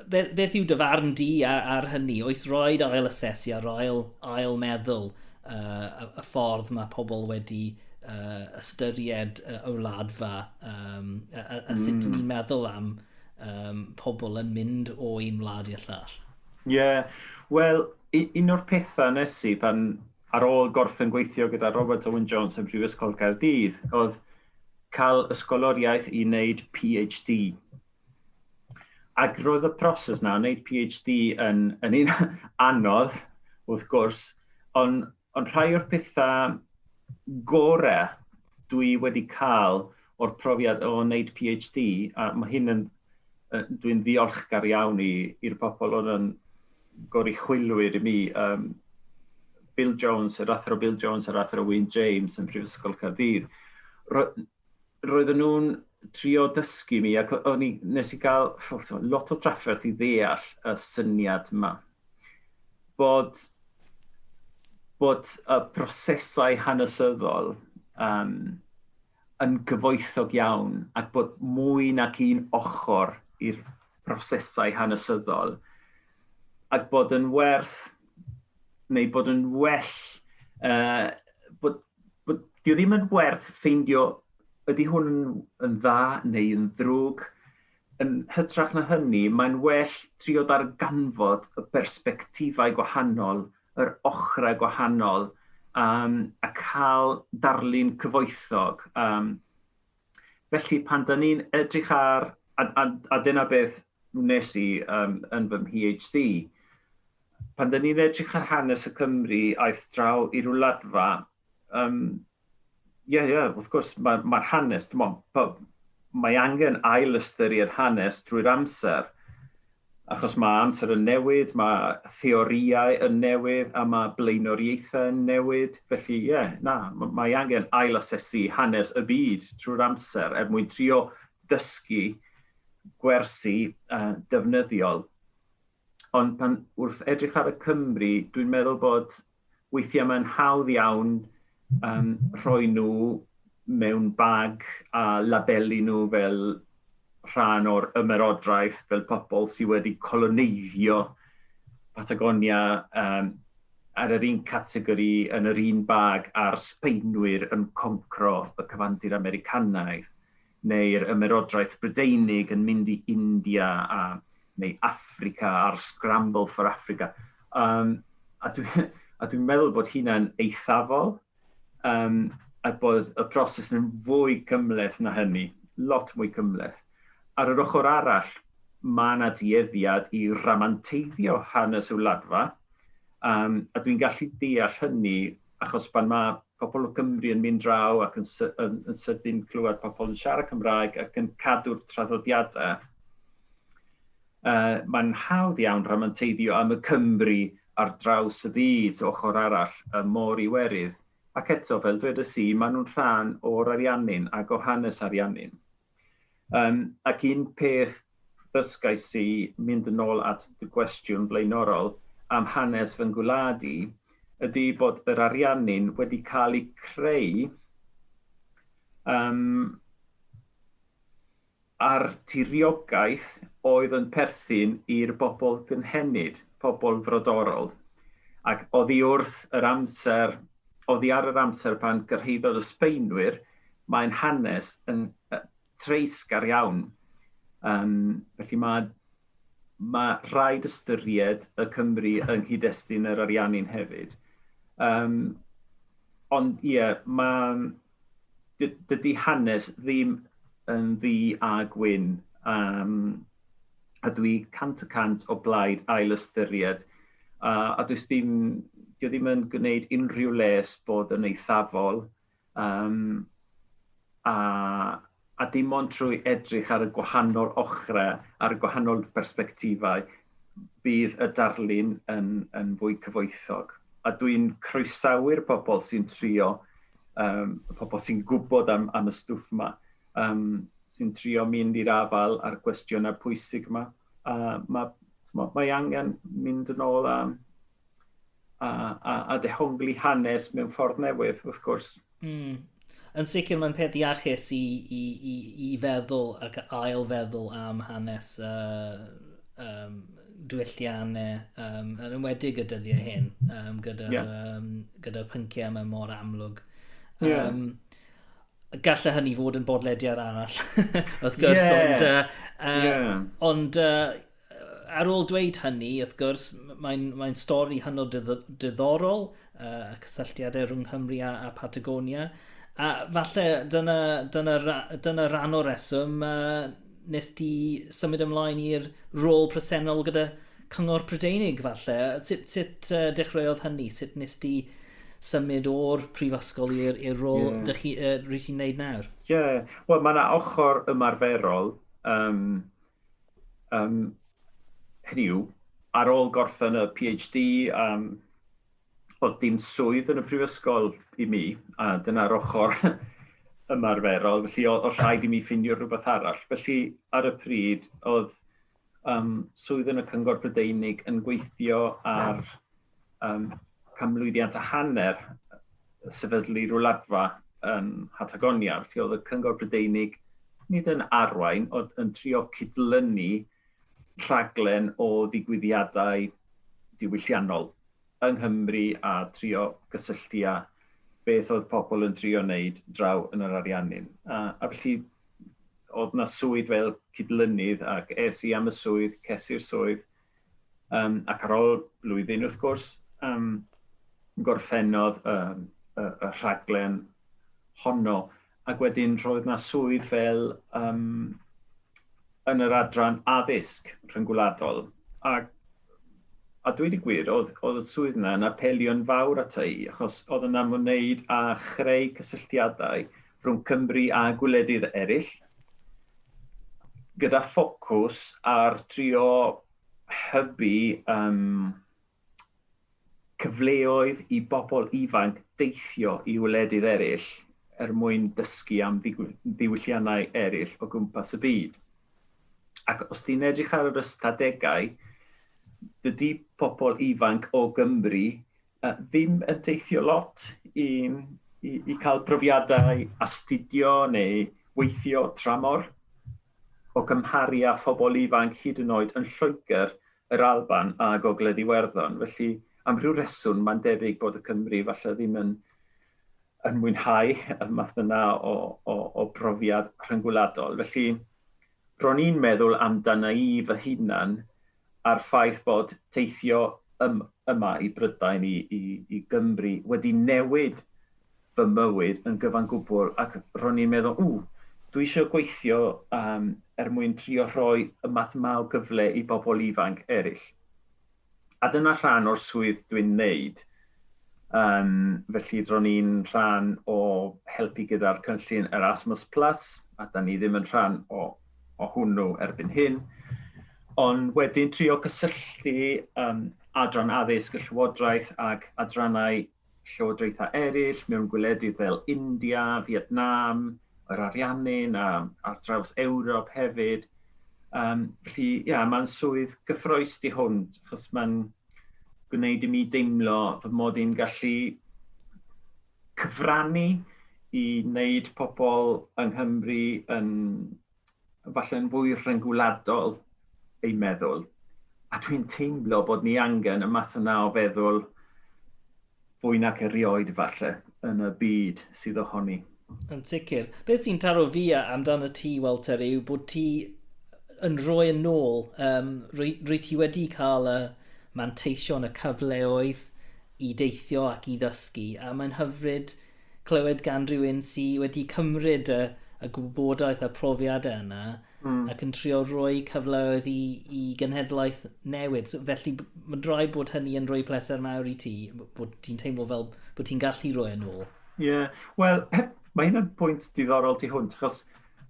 beth yw dy farn di ar, ar hynny? Oes roed ail asesu ar ail, ail meddwl uh, y, y ffordd mae pobl wedi uh, ystyried y uh, wladfa um, a, a, a sut mm. ni'n meddwl am um, pobl yn mynd o un wlad i'r llall? Ie, yeah. wel, un o'r pethau nes i pan ar ôl gorffen gweithio gyda Robert Owen Jones yn Prifysgol Caerdydd oedd cael ysgoloriaeth i wneud PhD Ac roedd y proses na, wneud PhD yn, yn un anodd, wrth gwrs, ond on rhai o'r pethau gorau dwi wedi cael o'r profiad o wneud PhD, a mae hyn yn, dwi'n ddiolchgar iawn i'r pobl oedd yn goruchwylwyr i mi, um, Bill Jones, yr athro Bill Jones a'r athro Wyn James yn Prifysgol Caerdydd, roedden nhw'n trio dysgu mi, ac o'n i, nes i gael lot o drafferth i ddeall y syniad yma. Bod, bod y prosesau hanesyddol um, yn gyfoethog iawn, ac bod mwy nac un ochr i'r prosesau hanesyddol, ac bod yn werth, neu bod yn well, uh, bod, bod, di ddim yn werth ffeindio ydy hwn yn dda neu yn ddrwg. Yn hytrach na hynny, mae'n well trio darganfod y bersbectifau gwahanol, yr ochrau gwahanol, um, a cael darlun cyfoethog um, Felly pan dan ni'n edrych ar, a, a, a dyna beth wnes i um, yn fy mhd, pan dan ni'n edrych ar hanes y Cymru aeth draw i ryw ladfa, um, ie, yeah, ie, yeah, wrth gwrs, mae'r ma hanes, mae angen ail ystyried hanes drwy'r amser, Achos mae amser yn newid, mae theorïau yn newid a mae blaenoriaethau yn newid. Felly, ie, na, mae angen ail-asesu hanes y byd trwy'r amser er mwyn trio dysgu gwersi defnyddiol. Ond pan, wrth edrych ar y Cymry, dwi'n meddwl bod weithiau mae'n hawdd iawn um, rhoi nhw mewn bag a labelu nhw fel rhan o'r ymerodraeth, fel pobl sydd wedi coloneiddio Patagonia um, ar yr un categori yn yr un bag a'r Sbeinwyr yn concro y cyfandir Americanaidd. neu'r Ymerodraeth Brydeinig yn mynd i India a, neu Affrica a'r Scramble for Africa. Um, a dwi'n dwi meddwl bod hynna'n eithafol um, a bod y proses yn fwy cymleth na hynny, lot mwy cymleth. Ar yr ochr arall, mae yna dueddiad i ramanteiddio hanes y wladfa, um, a dwi'n gallu deall hynny achos pan mae pobl o Gymru yn mynd draw ac yn yn yn sydyn clywed pobl yn siarad Cymraeg ac yn cadw'r traddodiadau. Uh, Mae'n hawdd iawn rhamanteiddio am y Cymru ar draws y byd, ochr arall, y môr Iwerydd, ac eto, fel dwedes i, maen nhw'n rhan o'r Ariannin ac o hanes Ariannin. Yym, ac un peth ddysgais i, mynd yn ôl at dy gwestiwn blaenorol am hanes fy ngwlad i, ydy bod yr Ariannin wedi cael eu creu yym, ar tiriogaeth oedd yn perthyn i'r bobl gynhenid, pobl frodorol, ac oddi wrth yr amser, oddi ar yr amser pan gyrhaeddodd y Sbaenwyr, mae'n hanes yn treisgar iawn. Um, felly mae, mae rhaid ystyried y Cymru yng nghyd-destun yr Ariannin hefyd. Um, ond ie, yeah, mae dydy hanes ddim yn ddu a gwyn, um, a dwi cant y cant o blaid ail ystyried, uh, a dwi ddim, dwi ddim yn gwneud unrhyw les bod yn eithafol, um, a a dim ond trwy edrych ar y gwahanol ochrau, ar y gwahanol bersbectifau, bydd y darlun yn, yn fwy cyfoethog. A dwi'n croesawu'r pobl sy'n trio, um, y pobl sy'n gwybod am, am y stwff yma, um, sy'n trio mynd i'r afael a'r gwestiynau pwysig yma. A mae, mae angen mynd yn ôl a, a, a, a dehongli hanes mewn ffordd newydd, wrth gwrs. Mm. Yn sicr mae'n peth iachus i, i, i, i feddwl ac ail feddwl am hanes uh, um, dwylliannau, um, yn ymwedig y dyddiau hyn, um, gyda'r yeah. um, gyda pynciau yma mor amlwg. Um, yeah. Gallai hynny fod yn bodlediad arall, wrth gwrs, yeah. ond, uh, yeah. ond uh, Ar ôl dweud hynny, wrth gwrs, mae'n mae stori hynod diddorol, uh, y cysylltiadau rhwng Nghymru a, a Patagonia, a falle dyna, dyna, dyna rhan o'r reswm uh, nes di symud ymlaen i'r rôl presennol gyda Cyngor Prydeinig, falle. Sut, sut uh, dechreuodd hynny? Sut nes di symud o'r prifysgol i'r rôl yeah. dych chi, uh, rhys i'n neud nawr? Ie, yeah. wel mae yna ochr ymarferol um, Um, hynny yw, ar ôl gorffen y PhD, um, oedd dim swydd yn y prifysgol i mi, a dyna'r ochr ymarferol, felly oedd rhaid i mi ffindio rhywbeth arall. Felly ar y pryd oedd um, swydd yn y Cyngor Brydeinig yn gweithio ar um, canmlwyddiant a hanner sefydlu rwladfa yn Hatagonia, felly oedd y Cyngor Brydeinig nid yn arwain, ond yn trio cydlynu rhaglen o ddigwyddiadau diwylliannol yng Nghymru a trio gysylltu â beth oedd pobl yn trio wneud draw yn yr Ariannin. A, a felly oedd na swydd fel cydlynydd ac es i am y swydd, cesi'r swydd, Um, ac ar ôl blwyddyn, wrth gwrs, um, gorffennodd um, y, y rhaglen honno, ac wedyn roedd yna swydd fel um, yn yr adran addysg rhyngwladol. A, a dweud y gwir, oedd, oedd y swydd yna yn apelio'n fawr at ei, achos oedd yna mwneud a chreu cysylltiadau rhwng Cymru a gwledydd eraill, gyda ffocws ar trio hybu um, cyfleoedd i bobl ifanc deithio i wledydd eraill er mwyn dysgu am ddiwylliannau eraill o gwmpas y byd. Ac os ti'n edrych ar yr ystadegau, dydy pobl ifanc o Gymru ddim yn teithio lot i i i cael profiadau astudio neu weithio tramor, o gymharu â phobl ifanc hyd yn oed yn Lloegr, yr Alban a Gogledd Iwerddon. Felly, am rhyw reswm, mae'n debyg bod y Cymry falle ddim yn yn mwynhau y math yna o, o, o brofiad rhyngwladol. Felly, ro'n i'n meddwl amdana i fy hunan a'r ffaith bod teithio ym, yma i Brydain, i, i, i Gymru, wedi newid fy mywyd yn gyfan gwbl ac ro'n i'n meddwl, ww, dwi eisiau gweithio um, er mwyn trio rhoi y math yma o gyfle i bobl ifanc eraill. A dyna rhan o'r swydd dwi'n wneud. Um, felly ro'n i'n rhan o helpu gyda'r cynllun Erasmus Plus, a da ni ddim yn rhan o o hwnnw erbyn hyn, ond wedyn trio cysylltu um, adran addysg y Llywodraeth ac adrannau llywodraethau eraill mewn gwledydd fel India, Vietnam, yr Ariannin a ar draws Ewrop hefyd. Um, felly, ia, yeah, mae'n swydd gyffroes di hwn, achos mae'n gwneud i mi deimlo fy mod i'n gallu cyfrannu i wneud pobl yng Nghymru yn falle'n fwy rhyngwladol eu meddwl. A dwi'n teimlo bod ni angen y math yna o feddwl fwy nac erioed falle yn y byd sydd ohoni. Yn sicr. Beth sy'n taro fi amdan y ti, Walter, yw bod ti yn rhoi yn ôl. Um, rwy, rwy ti wedi cael y manteision, y cyfleoedd i deithio ac i ddysgu, a mae'n hyfryd clywed gan rhywun sydd wedi cymryd y, y gwybodaeth a profiadau yna mm. ac yn trio rhoi cyfleoedd i, i genhedlaeth newydd. So, felly, mae'n rhai bod hynny yn rhoi pleser mawr i ti, bod ti'n teimlo fel bod ti'n gallu rhoi yn ôl. Ie, yeah. wel, mae hyn yn pwynt diddorol ti hwnt, achos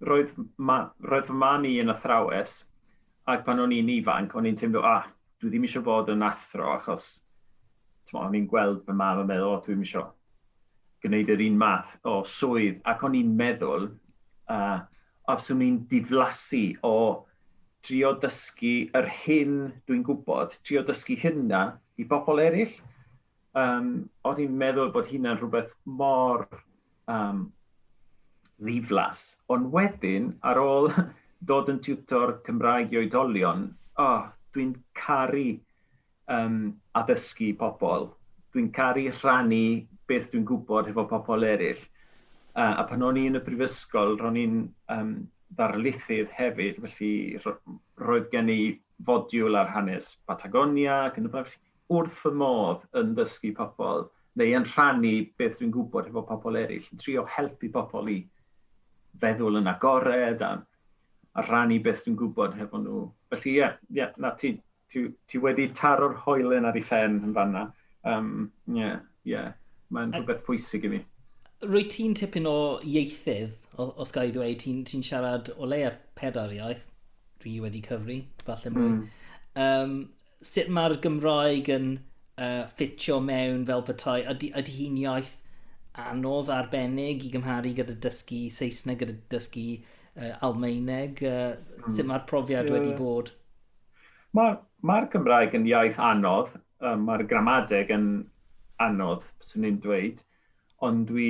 roedd, ma, roedd fy man i yn athrawes, Ac pan o'n i'n ifanc, o'n i'n teimlo, ah, dwi ddim eisiau bod yn athro achos tmo, o'n i'n gweld fy mam yn meddwl, o, dwi'n eisiau gwneud yr un math o swydd. Ac o'n i'n meddwl, uh, os o'n i'n diflasu o trio dysgu yr hyn dwi'n gwybod, trio dysgu hynna i bobl eraill, um, o'n i'n meddwl bod hynna'n rhywbeth mor am ddiflas, ond wedyn ar ôl dod yn tiwtor Cymraeg i oedolion, o, dwi'n caru um, addysgu pobl, dwi'n caru rhannu beth dwi'n gwybod hefo pobl eraill. A, a pan o'n i yn y brifysgol, ro'n i'n um, ddarlithydd hefyd, felly roedd gen i fodiwl ar hanes Patagonia ac yn y blaen. wrth fy modd yn dysgu pobl neu yn rhannu beth dwi'n gwybod hefo pobl eraill, yn trio helpu pobl i feddwl yn agored a a rhannu beth dwi'n gwybod hefo nhw. Felly ie, ie, na ti ti ti wedi taro'r hoelen ar ei phen yn fanna. Um, ie, ie, mae'n rhywbeth pwysig i mi. Rwy ti'n tipyn o ieithydd, os gael ei ddweud, ti'n ti siarad o leia pedair iaith, dwi wedi cyfri, falle mwy. Mm. Um, sut mae'r Gymraeg yn uh, ffitio mewn fel petai, ydy, ydy hi'n iaith anodd arbennig i gymharu gyda dysgu Saesneg, gyda dysgu uh, Almaeneg? Uh, mm. Sut mae'r profiad yeah. wedi bod? Mae'r ma, ma Gymraeg yn iaith anodd, um, mae'r gramadeg yn anodd, swn i'n dweud, ond dwi,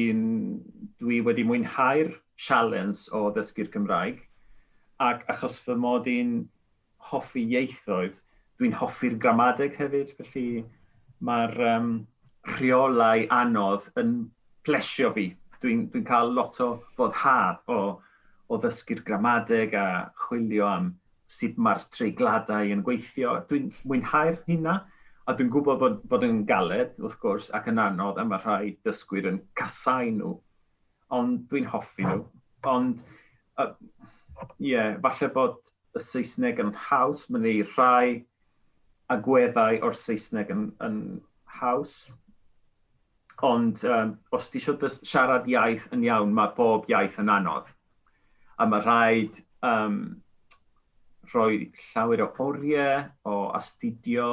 dwi wedi mwynhau'r sialens o ddysgu'r Gymraeg, ac achos fy mod i'n hoffi ieithoedd, dwi'n hoffi'r gramadeg hefyd, felly mae'r um, rheolau anodd yn plesio fi. Dwi'n dwi cael lot o foddhad o, o ddysgu'r gramadeg a chwilio am sut mae'r treigladau yn gweithio. Dwi'n mwynhau'r hynna, a dwi'n gwybod bod, bod yn galed, wrth gwrs, ac yn anodd, a mae rhai dysgwyr yn casau nhw, ond dwi'n hoffi nhw. Ond, ie, uh, yeah, falle bod y Saesneg yn haws, mae 'na rhai agweddau o'r Saesneg yn yn haws, ond yym os ti isio dys- siarad iaith yn iawn, mae bob iaith yn anodd, a mae rhaid yym rhoi llawer o oriau, o astudio,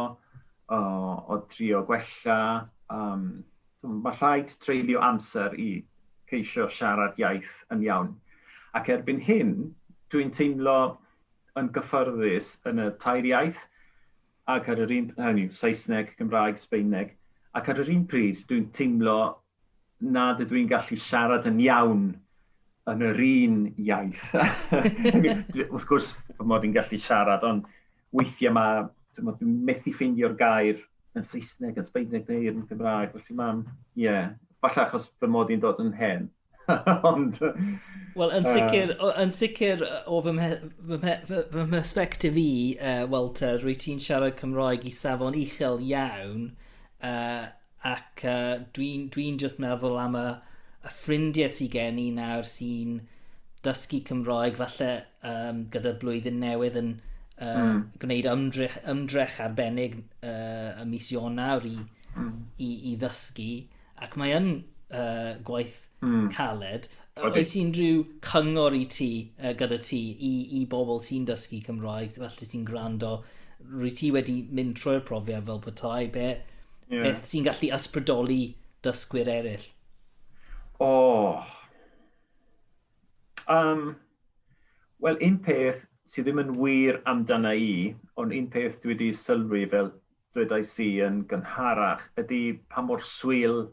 o o drio gwella yym. Mae rhaid treulio amser i geisio siarad iaith yn iawn, ac erbyn hyn dwi'n teimlo yn gyffyrddus yn y tair iaith, ac ar yr un, hynny yw, Saesneg, Cymraeg, Sbaeneg, ac ar yr un pryd dwi'n teimlo nad ydw i'n gallu siarad yn iawn yn yr un iaith. Wrth gwrs fy mod i'n gallu siarad, ond Weithiau mae, dwi'n dwi methu ffeindio'r gair yn Saesneg, yn Sbaeneg neu yn Gymraeg, felly mae'n, ie, yeah, falle achos fy mod i'n dod yn hen. Ond... Wel, yn sicr, uh, yn sicr o fy, mhe, fy, mhe, fy, fy perspektif i, uh, Walter, rwy ti'n siarad Cymroeg i safon uchel iawn, uh, ac uh, dwi'n dwi, dwi just meddwl am y, y ffrindiau sy'n gen i nawr sy'n dysgu Cymroeg, falle um, gyda'r blwyddyn newydd yn uh, mm. gwneud ymdrech, ymdrech arbennig uh, y mis Ionawr i, mm. i, i ddysgu. Ac mae yn uh, gwaith mm. caled. Oes unrhyw cyngor i ti, uh, gyda ti, i, i bobl sy'n dysgu Cymraeg, felly sy'n gwrando, rwy ti wedi mynd trwy'r profiad fel petai, be, yeah. beth sy'n gallu ysbrydoli dysgwyr eraill? O, oh, Um, Wel, un peth sydd ddim yn wir amdana i, ond un peth dwi wedi sylwi fel dwedais i yn gynharach, ydy pa mor swil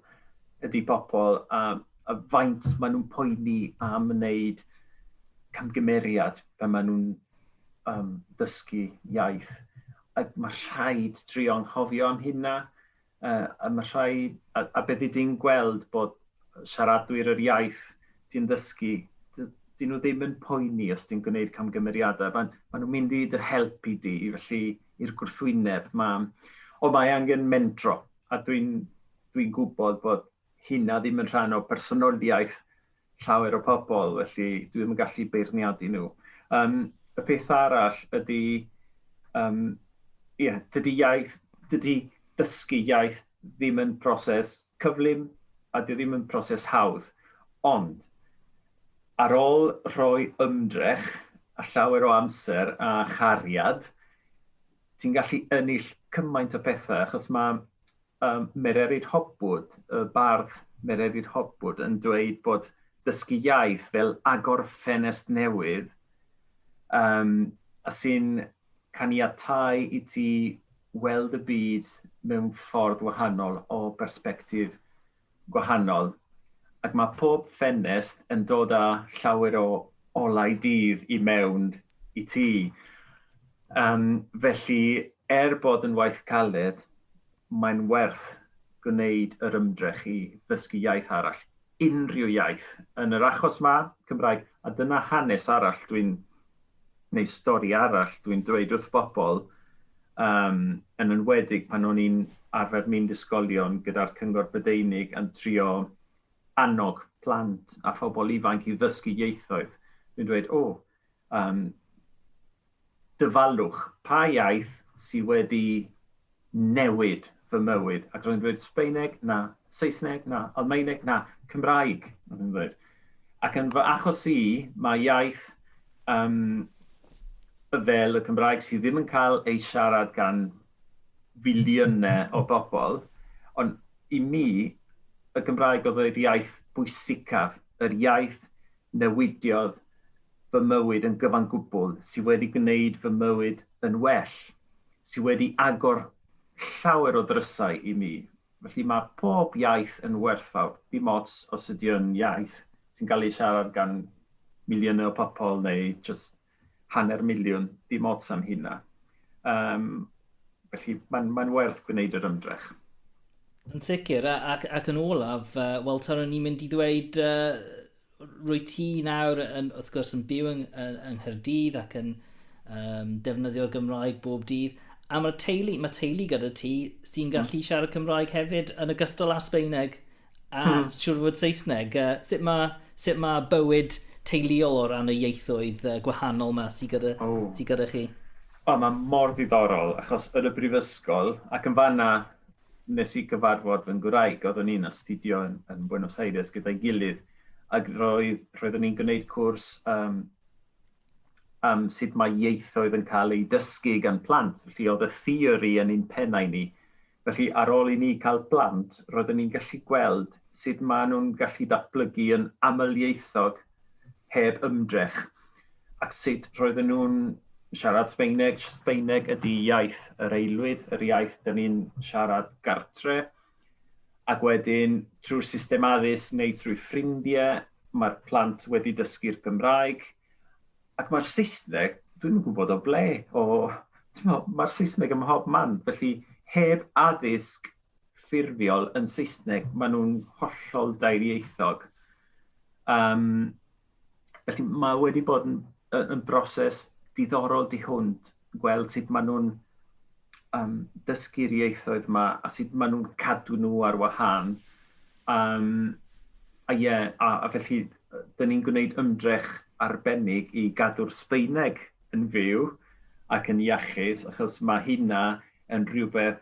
ydy pobl a, a faint maen nhw'n poeni am wneud camgymeriad pan maen nhw'n um, dysgu iaith. A mae rhaid trio'n hofio am hynna. a ma' rhai... a a be' fy' di'n gweld bod siaradwyr yr iaith ti'n ddysgu, d- 'dyn nhw ddim yn poeni os ti'n gwneud camgymeriadau, ma' ma' nhw'n mynd i dy helpu di, felly i'r gwrthwyneb, ma'... Ond mae angen mentro, a dwi'n dwi'n gwybod bod hynna ddim yn rhan o bersonoliaeth llawer o pobl, felly dwi ddim yn gallu beirniadu nhw. Um, y peth arall ydy, um, yeah, dydy iaith, dydy dysgu iaith ddim yn proses cyflym a dy ddim yn proses hawdd. Ond, ar ôl rhoi ymdrech a llawer o amser a chariad, ti'n gallu ennill cymaint o pethau, achos mae um, Mererid Hopwood, y bardd Mererid Hopwood, yn dweud bod dysgu iaith fel agor ffenest newydd um, a sy'n caniatau i ti weld y byd mewn ffordd wahanol o berspektif gwahanol ac mae pob ffenest yn dod â llawer o olau dydd i mewn i ti. Yym, felly, er bod yn waith caled, mae'n werth gwneud yr ymdrech i ddysgu iaith arall, unrhyw iaith. Yn yr achos 'ma, Cymraeg, a dyna hanes arall dwi'n neu stori arall dwi'n dweud wrth bobl, yym, yn enwedig pan o'n i'n arfer mynd i ysgolion gyda'r Cyngor Brydeinig yn trio annog plant a phobl ifanc i ddysgu ieithoedd, dwi'n dweud, o, yym, dyfalwch, pa iaith sydd wedi newid fy mywyd, ac roedd yn dweud Sbaeneg, na, Saesneg, na, Almaeneg, na, Cymraeg, roedd yn dweud. Ac yn fy achos i, mae iaith um, fel y Cymraeg sydd ddim yn cael ei siarad gan filiynau o bobl, ond i mi, y Gymraeg oedd yr iaith bwysicaf, yr iaith newidiodd fy mywyd yn gyfan gwbl, sydd wedi gwneud fy mywyd yn well. sydd wedi agor llawer o ddrysau i mi. Felly mae pob iaith yn werthfawr, dim ots os ydy o'n iaith sy'n cael ei siarad gan miliynau o pobl neu jyst hanner miliwn, dim ots am hynna. Um, felly mae'n mae werth gwneud yr ymdrech. Yn sicr, ac, ac yn olaf, uh, wel, Taro, ni'n mynd i ddweud uh, Rwyt ti nawr yn, wrth gwrs, yn byw yng, yng Nghyrdydd ac yn um, defnyddio'r Gymraeg bob dydd. A mae'r teulu, mae teulu gyda ti sy'n hmm. gallu mm. siarad Cymraeg hefyd yn ogystal â Sbeineg a mm. siwr fod Saesneg. Uh, sut, mae, sut mae bywyd teuluol o ran y ieithoedd uh, gwahanol yma sy'n gyda, oh. sy gyda chi? O, mae mor ddiddorol, achos yn y brifysgol, ac yn fanna, Wnes i gyfarfod fy ngwraig, oeddwn i'n astudio yn yn Buenos Aires gyda'i gilydd ac roedd roeddwn ni'n gwneud cwrs yym am sut mae ieithoedd yn cael eu dysgu gan plant, felly oedd y theori yn ein pennau ni. Felly ar ôl i ni cael plant, roeddwn ni'n gallu gweld sut maen nhw'n gallu datblygu yn amlieithog heb ymdrech at sut roedden nhw'n siarad Sbeineg. Sbeineg ydy iaith yr aelwyd, yr iaith dyn ni'n siarad gartre, ac wedyn trwy'r system addysg neu trwy ffrindiau, mae'r plant wedi dysgu'r Gymraeg, ac mae'r Saesneg, dwi'n gwybod o ble, o, mae'r Saesneg ym mhob man, felly heb addysg ffurfiol yn Saesneg, maen nhw'n hollol dairieithog. Um, felly mae wedi bod yn, yn broses diddorol di hwnt gweld sut maen nhw'n um, dysgu'r ieithoedd yma a sut maen nhw'n cadw nhw ar wahân. Um, a ie, yeah, a, a felly, dyn ni'n gwneud ymdrech arbennig i gadw'r Sbeineg yn fyw ac yn iachus, achos mae hynna yn rhywbeth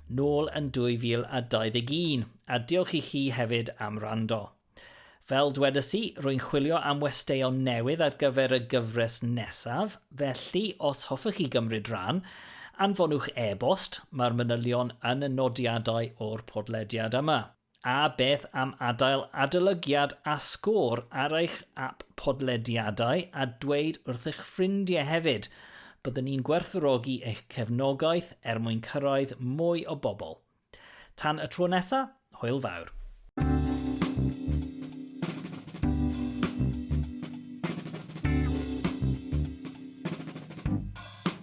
nôl yn 2021, a diolch i chi hefyd am wrando. Fel dwedais i, rwy'n chwilio am westeion newydd ar gyfer y gyfres nesaf, felly os hoffech chi gymryd rhan, anfonwch e-bost, mae'r manylion yn y nodiadau o'r podlediad yma. A beth am adael adolygiad a sgôr ar eich ap podlediadau a dweud wrthych ffrindie hefyd? Byddwn ni'n gwerthfawrogi eich cefnogaeth er mwyn cyrraedd mwy o bobl. Tan y tro nesa, hwyl fawr.